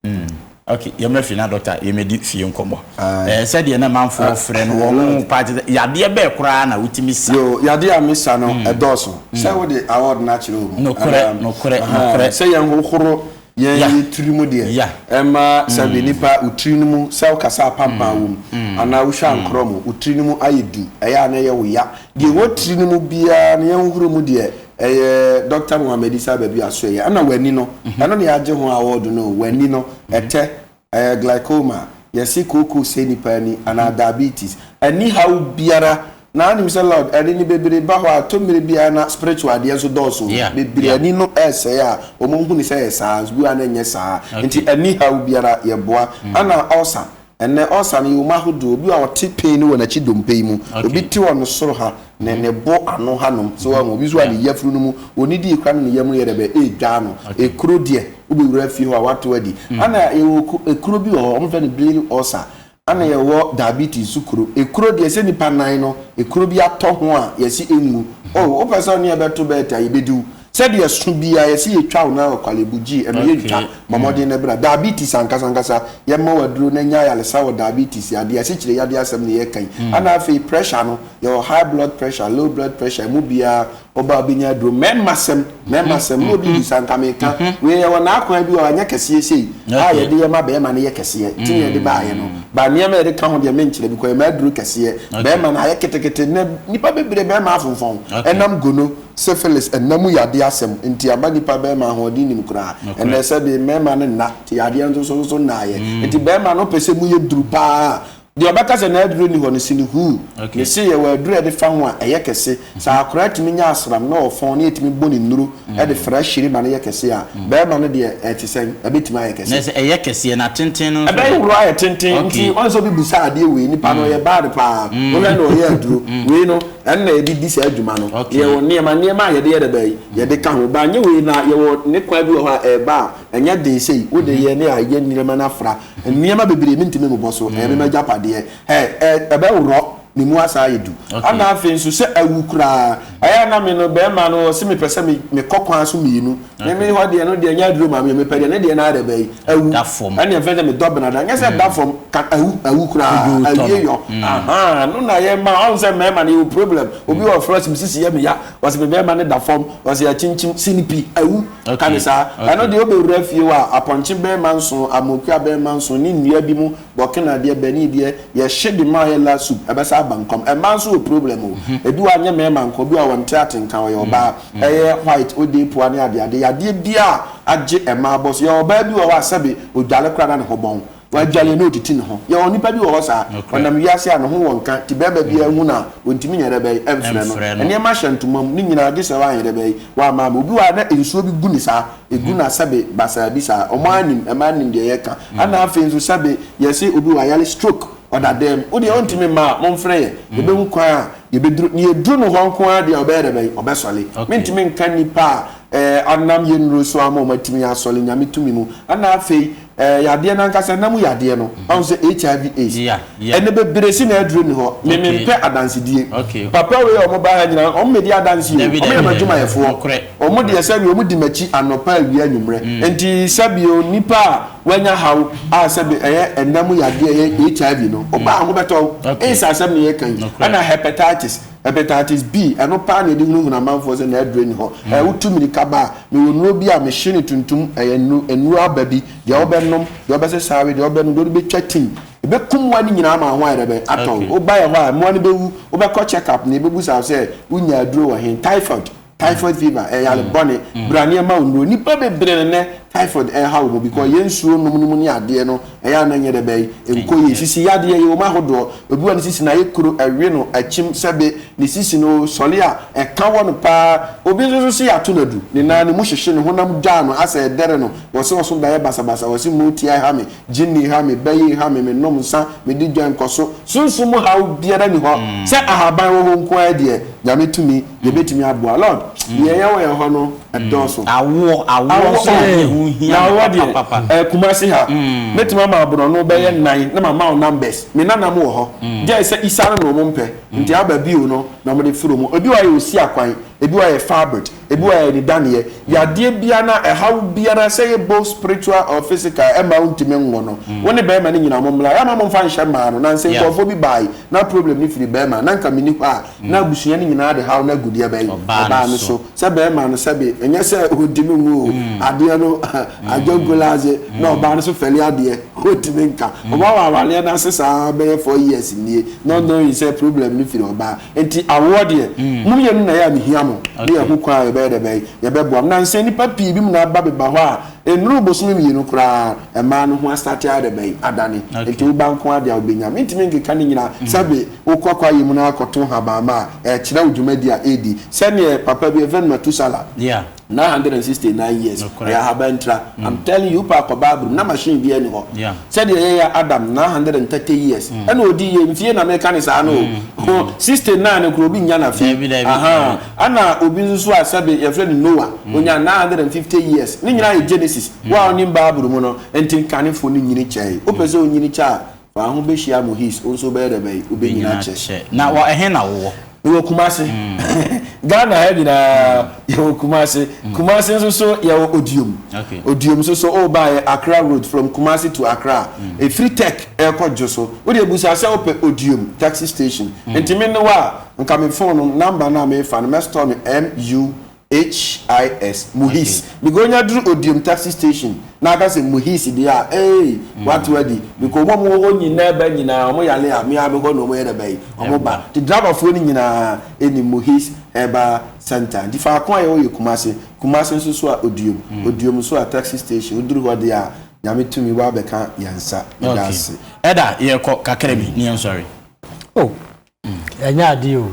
mm. okay yɛ mmerɛ fii na dɔkta yɛmɛdi fie nkɔmmɔ ah. eh, sɛdeɛ na manfoɔ frɛ no wɔn ho paa te sɛ yadeɛ bɛɛ koraa na wotumi sa yo yadeɛ a mesa no ɛdɔɔso sɛ wode award no akyerɛ wɔ mu nokorɛ nokorɛ nokorɛ sɛ yɛnhohoro Yɛn Yeah. yɛ tiri mu deɛ, Yeah. ɛmma sɛ bi nipa wo tiri no mu sɛ wo kasa apanpan wom anaa wo hwɛ ankorɔ mu wo tiri no mu ayɛ du ɛyɛ a na ɛyɛ wo ya deɛ ɛwɔ tiri no mu biara no yɛnhohoro mu deɛ ɛyɛ Doctor Mohammed Isa Babi Asoɛyɛ ɛna w'ani no ɛno na yɛagye ho awɔɔdo no o w'ani no ɛtɛ ɛyɛ glycoma a, yɛse kooko sɛe nipa ani anaa diabetes. Ɛnni haw biara. Na wonim sɛ Lord, ɛde no bebree ba hɔ a, ɛtɔ mmere bi ara na spiritual deɛ nso dɔɔso o. Yeah, Bebree yeah. ani no resɛe a, wɔhu no sɛ ɛyɛ saa, bi wɔ ha no ɛnyɛ saa. Okay. Nti ɛnni haw biara, yɛboa. Ɛna ulcer, ɛnnɛ ulcer no yɛwɔ mu ahodoɔ. Obi wɔ hɔ a ɔte pain wɔ n'akyi dompe yi mu, Okay. obi te wɔ ne soro ha, ne ne bo ano hanom so wɔn obi nso a ne yafunu no mu onidie kura no ne yam no yɛ dɛ bɛ ɛredwa ano ekuro deɛ wobɛwura fie hɔ a wato adi ana yɛwɔ ekuro bi wɔ hɔ wɔfrɛ no bleeding ulcer ana yɛwɔ diabetes so kuro ekuro deɛ sɛ nipa nan no ekuro bi atɔ ho a yɛsi enwu o wopɛ sɛ ɔne ɛbɛto bɛɛta yɛbɛdiw Sɛdeɛ ɛso biara yɛse yɛtwa wo na ɔkwalebu gyee ɛno yɛntwa, bɔ mmɔden na bra. Diabetes ankasa ankasa, yɛmma wo aduro na nya ayaresa wɔ diabetes yadeɛ, asikyire yadeɛ asɛm na yɛreka yi. Ana afei pressure no, yɛwɔ high blood pressure, low blood pressure, ɛmu biara woba a wobɛnya aduro. Mmɛmma sɛm, mmɛmma sɛm, na obi bisa anka meka wei yɛwɔ n'akwan bi wɔ hɔ a ɛnyɛ kɛseɛ sei a yɛde yɛ ma bɛrima no yɛ kɛseɛ, nti na yɛde baeɛ no, but nneɛma a yɛde ka ho deɛ menkyerɛ because ɛma aduro kɛseɛ bɛrima no ayɛ ketekete, nnɛ nnipa bebree bɛrima afomfɔn ɛnam gono. Syphilis, ɛnna mu yadeɛ asɛm nti ama nnipa bɛrima ahoɔden nim koraa. Ɛnnɛ sɛ deɛ mmarima no nna, te yadeɛ nso so nso nnaeɛ. Nti barima no pɛ sɛ mu yɛ duru paa a, deɛ ɔbɛka sɛ n'aduro nni hɔ no, si no huu. Ne se yɛwɔ aduro a ɛde fa ho a ɛyɛ kɛse. Sɛ akwadaa tumi nya asram na ɔfɔn na yɛtumi bɔ ne nnuro de fra hyire ma no yɛ kɛse a, barima no deɛ ɛte sɛn? Ɛbɛtumi ayɛ kɛse. Na sɛ ɛyɛ kɛseɛ na tenten no nso ɛ? Ɛbɛyɛ horo ayɛ tenten. Nti wɔn sɛ obi bisa adeɛ wei, nipa no ɔyɛ bad paa. Wohwɛ no ɔyɛ aduro. Wei no, Ɛna ɛde di saa dwuma no. Okay. Yɛwɔ nneɛma nneɛma a yɛde yɛ dada yi, yɛde ka ho. Ba nyɛ wei na yɛwɔ ne kwan bi wɔ hɔ a ɛreba a, ɛnyɛ den sei. Wode mhm. yɛ ne a yɛ nneɛma no afra. Mhm. Nneɛma bebree mentumi mmobɔ so. Ɛyɛ me m'agyapadeɛ. Ɛ ɛ ɛbɛworɔ ne mu asa ayɛ du. Okay. Ana afei nso sɛ awu koraa. Ɛyɛ na me no bɛrima no ɔse mepɛ sɛ mekɔ kwan so mmienu ne me hɔ deɛ no deɛ nyɛ aduro maame mepɛ deɛ ne deɛ no ara bɛyi awu ɛne ɛfɛ sɛ medɔ benada nyɛ sɛ da mm. fam ka awu awu koraa awie yɔ mm. aha no na yɛ ma ɔn sɛ mɛɛma no yɛ problem obi wɔ fura sim sisi yɛ me ya wɔsi me bɛɛma ne da fam wɔsi akyinkyim sinipi awu ka ne saa ɛno deɛ ɔbɛwura fie wɔ a apɔnkye bɛɛma nson amokua bɛɛma nson ne nnua bi mu Burkina deɛ Benin deɛ yɛhye de ma ayɛ la soup ɛbɛsa aba nkɔm ɛmaa nso wɔ problem o ebi wɔ a nyɛ mɛɛma nko obi wɔ a ɔnte atenka ɔyɛ ɔbaa ɛyɛ white odee poa ne adeade yadeɛ bia a agye ɛmaa bɔ so yɛwɔ ɔbaa bi wɔ hɔ a sɛbe odwale koraa na ne ho bɔn wadwale na otiti ne ho yɛwɔ nipa bi wɔ hɔ saa ɔnam wiase a ne ho wɔ nka nti bɛɛma bia hu no a ontimi nyɛ dɛbɛn ɛmfrɛ no ɛneɛma hyɛ ntoma mu ne nyinaa gyesɛ wanyɛ dɛbɛn wama ama obi wɔ a na nsuo bi gu ne saa Egu na sɛbe basaa bi saa. Ɔmo ara nim, ɛmaa nim deɛ yɛka. Ɛna afei nso sɛbe yɛse obi wɔ ayale stroke, ɔda dɛm, wodeɛ ontumi mma a, monfrɛ yɛ, yɛbɛhu kwan a yɛbɛduru no. Yɛduru no hɔ nko ara deɛ a ɔbɛyɛ dɛbɛn? Ɔbɛsɔle. Mentumi nka nnipa a ɛɛ ɔnam yɛnnuro so ama ɔmo atumi asɔle, Nyame tumi mu. Ɛna afei Eh, yadeɛ no ankasa nna mu yadeɛ no, mm-hmm. ahu sɛ HIV AIDS. Yeah, yeah. Ɛnɛ bebree si na aduru ne hɔ. Me okay. mempɛ adansedie. Okay. Papa wei a wɔn ba ha nyinaa, wɔn medi adanse o, wɔn yɛ m'adwumayɛfoɔ. Wɔn deɛ sɛbi wɔn di m'akyi anɔpa awia anwummerɛ. Mm. Nti sɛbi o nipa a wɔanya haw a sɛbi ɛyɛ ɛnna mu yadeɛ ɛyɛ HIV no, ɔbaa mm. ho bɛtɔ. Okay. Ɛyɛ sɛ asɛm na yɛ kan yi. Ɛna hepatitis. Hepatitis B, ɛno paa na yɛde hunahuna amanfoɔ sɛ n'aduro nni hɔ. Ɛɛ, wotu mmirika ba a, mewɔ nnuro bi a mehye no tuntum, ɛyɛ nnuro, nnuro aba bi, deɛ wobɛnom, deɛ wobɛsesa awe, deɛ wobɛnom, deɛ wode bɛtwa tim. Ɛbɛkum mmoa no nyinaa ma wo ho ayɛ dɛ bɛn? Atɔn. Okay. Wobaeɛ hɔ a, mmoa no bɛwu. Wobɛkɔ check up na yɛbɛbusa wo sɛ, wonyaa aduro wɔ he? Typhoid. typhoid fever ɛyɛ yare mm. bɔne mm. bra nneɛma wo nnuro nnipa bebree no nɛ typhoid ɛha wɔ mu because mm. yɛ nsuo nom no mu ne adeɛ no ɛyɛ ana nyɛ dɛ bɛyi nkɔ yɛ sisi yadeɛ yɛ wɔn ahodoɔ obi wɔ ne sisi na ayɛ kuro ɛwe no akyim sɛbe ne sisi no sɔle a ɛka wɔ no paa obi nso so si yɛato no adu ne nan ne mu hyehye ne honam dwaa no asɛ ɛdɛre no wɔsi wɔso bɛyɛ basabasa wɔsi mu ti ɛha me gyinni ha me bɛyi ha me me nom nsa me di dwa nkɔso sunsun mu ha biara ni hɔ sɛ ahaban wɔ hɔ nko ara deɛ nyame tumi Yɛbɛtumi aboa. Lord, deɛ yɛyɛ wɔ yɛn hɔ no, ɛdɔɔso. Awoɔ, awoɔ nso na ɛho hia me papapapa. Awoɔ deɛ, ɛɛ, Kumasi ha, mɛtumi ama wo borɔno bɛyɛ nnan na mama wo numbers. Me nananom wɔ hɔ, gyɛe sɛ Isa no na wɔmpɛ, nti aba bio no na wɔde firi wɔn. Ebi wɔ hɔ a yɛ Osiakwan, ebi wɔ hɔ a yɛ Fabrit, ebi wɔ hɔ a yɛ Anidaneɛ. Yadeɛ biara anaa ɛhaw biara, sɛ ɛyɛ both spiritual or physical, ɛmma wontumi nwo no. Wo ne barima no nyinaa mommra. Yɛmma momfa nhyɛ mmaa no. Nansa nkurɔfoɔ bi baae, na problem no firi barima, na anka menni hɔ a, na abusua no nyinaa de haw no agu deɛ bɛn? Ɔbaa no so. Sɛ bɛrima no sɛbe, ɛnyɛ sɛ ɔdi no ngo o, adeɛ no adwankuladze, na ɔbaa no so fɛle adeɛ, ɔntumi nka. Ɔbaa wɔ awareɛ no ase saa bɛyɛ four years nie, not knowing sɛ problem no firi ɔbaa. Nti awoɔ deɛ, mo mmienu na ɛyɛ a mehia mo, ne yɛho kwan a yɛbɛyɛ dɛ bɛn? Yɛbɛboa mo. Nansa nnipa pii binom na aba beba hɔ a, Ennuruu bosome mmienu koraa, mmaa no ho astate ayɛ dɛbɛn? Adane. Enti wo ba nko ara deɛ a wobɛnya. Mentumi nkeka ne nyinaa. Sɛbe wokɔ kwaeɛ mu na woakɔto nhabamma a, ɛkyerɛ wo dwumadi a ɛredi. Sɛdeɛ papa bi, Rev. Methuselah, 969 years, ɔyɛ ahabantira. I'm telling you, wopɛ a kɔ Barbary mu, na machine biara nni hɔ. Sɛdeɛ yɛyɛ Adam, 930 years, ɛna ɔdii yɛ mfie na meka no saa no o. 69 no koraa, obi nnya no afe. Ahaa. Ɛna obi nso so a sɛbe yɛfrɛ no Noah, ɔnyaa nine hundred and fifty years. Ne nyinaa yɛ Genesis. Wo a wonim Bible mu no, ntenkanefoɔ no nyini kyɛɛe. Wopɛ sɛ wonyini kyɛ a, fa wo ho bɛhyia mu his, wo nso wobɛyɛ dɛ bɛn? Wobɛnyini akyɛ. Na wɔ ɛhe na wowɔ? Mewɔ Kumasi. Ghana ha nyinaa yɛwɔ Kumasi. Kumasi nso so yɛwɔ Odiom. Odiom nso so wobaeɛ Accra road from Kumasi to Accra a, ɛfiri Tech ɛrekɔ Dwoso. Wodeɛ busa sɛ wopɛ Odiom taxi station. Nti me ne wo a, Nka me phone no number no a mefa no mɛstɔɔ no MUHIS, Muhis. Megonya duru Odiom taxi station na aka sɛ Muhis deɛ a eei wate wadi because wɔn a wɔwɔ hɔ nyinaa ba nyinaa wɔn yale a me ara mekɔ na wɔn yɛ dɛ bɛyi wɔn ba nti driver foɔ no nyinaa nim Muhis herbal center nti faako a yɛwɔ yɛ Kumasi Kumasi nso so a Odiom Odiom nso a taxi station woduru hɔ deɛ a Nyame tumi wabɛka yɛn nsa meda ase. Okay ɛda yɛkɔ kakra bi ne yɛn sɔre. Oh. Ɛnyɛ adeɛ o.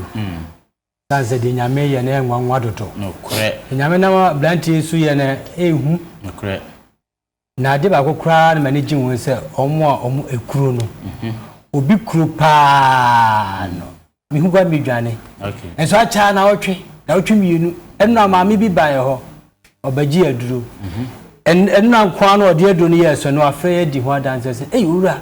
Sane sɛ deɛ Nyame yɛ no yɛ nwanwa dodo. Nokorɛ. Nyame nam abranteɛ yi so yɛ no ɛhu. Nokorɛ. Na adeɛ baako koraa na m'ani gye ho sɛ ɔmo a ɔmo ekuro no. Mhm. Obi kuro paa no. Mihu gua midwane. Okay. Nso akyɛ na ɔtwe na ɔtwe mmienu. Ɛno na maame bi ba yɛ hɔ. Ɔbɛgye aduro. Mhm. Ɛno na nkoa no ɔde aduro no yɛ sɛ no afei adi ho adanse sɛ ei owura.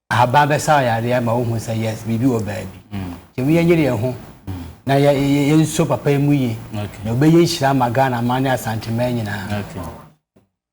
Ahaban bɛsaw yare ama wohu sɛ yes, biribi wɔ baabi. Nti ɛmu yɛnyere yɛn ho na yɛ yɛ yɛnso papa yi mu yie. Okay. Na ɔbɛyɛ nhyira ama Ghana man ne Asanteman nyinaa. Okay.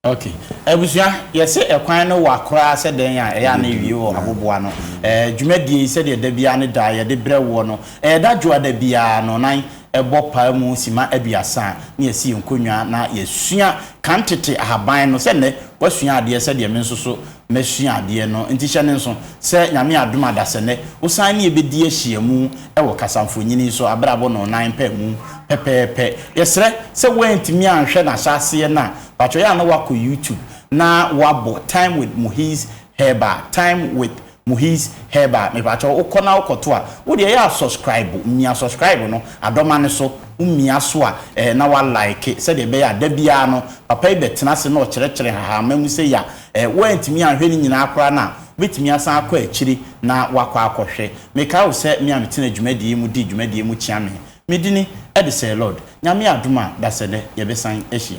Okay. Abusua, yɛse ɛkwan no wa koraa sɛ dɛn a ɛyɛ a na ewie wɔ aboboa no. Ɛɛ dwumadie yi sɛdeɛ da biara ne da yɛde brɛ woɔ no, ɛyɛ da dwoada biara no nan ɛbɔ paa mu sima aduasa a na yɛsi yɛn nkonnwa na yɛsua kan tete ahaban no sɛ nnɛ wasua adeɛ sɛdeɛ me nso so Masua adeɛ no nti hyɛ no nso sɛ Nyame adom adasɛ nɛ wo san ne yɛ bɛdi ahyiamu wɔ kasamfonyini so abrabɔ no nan pɛ mu pɛpɛɛpɛ. Yɛsrɛ sɛ woantumi anhwɛ n'ahyɛaseɛ no a patwɔ yɛ a na woakɔ YouTube na woabɔ Time with Muhiz Herbal, Time with Muhiz Herbal. Mepatwɔ wo kɔ na wo kɔto a wo deɛ yɛ a subscribe mia subscribe no adɔma no so wo mia so a na wa like sɛdeɛ ɛbɛyɛ a da biara no papa yi bɛtena ase na ɔkyerɛkyerɛ nhahamma mu sɛ ya Ɛ, woantumi anhwɛ ne nyinaa koraa no a, wobɛtumi asan akɔ akyiri na woakɔ akɔhwɛ. Mekae wo sɛ me a metena dwumadie yi mu di dwumadie mu kyeame. Medini, ɛde sɛɛ Lord. Nyame adom a, dasɛdɛ yɛbɛsan ahyia.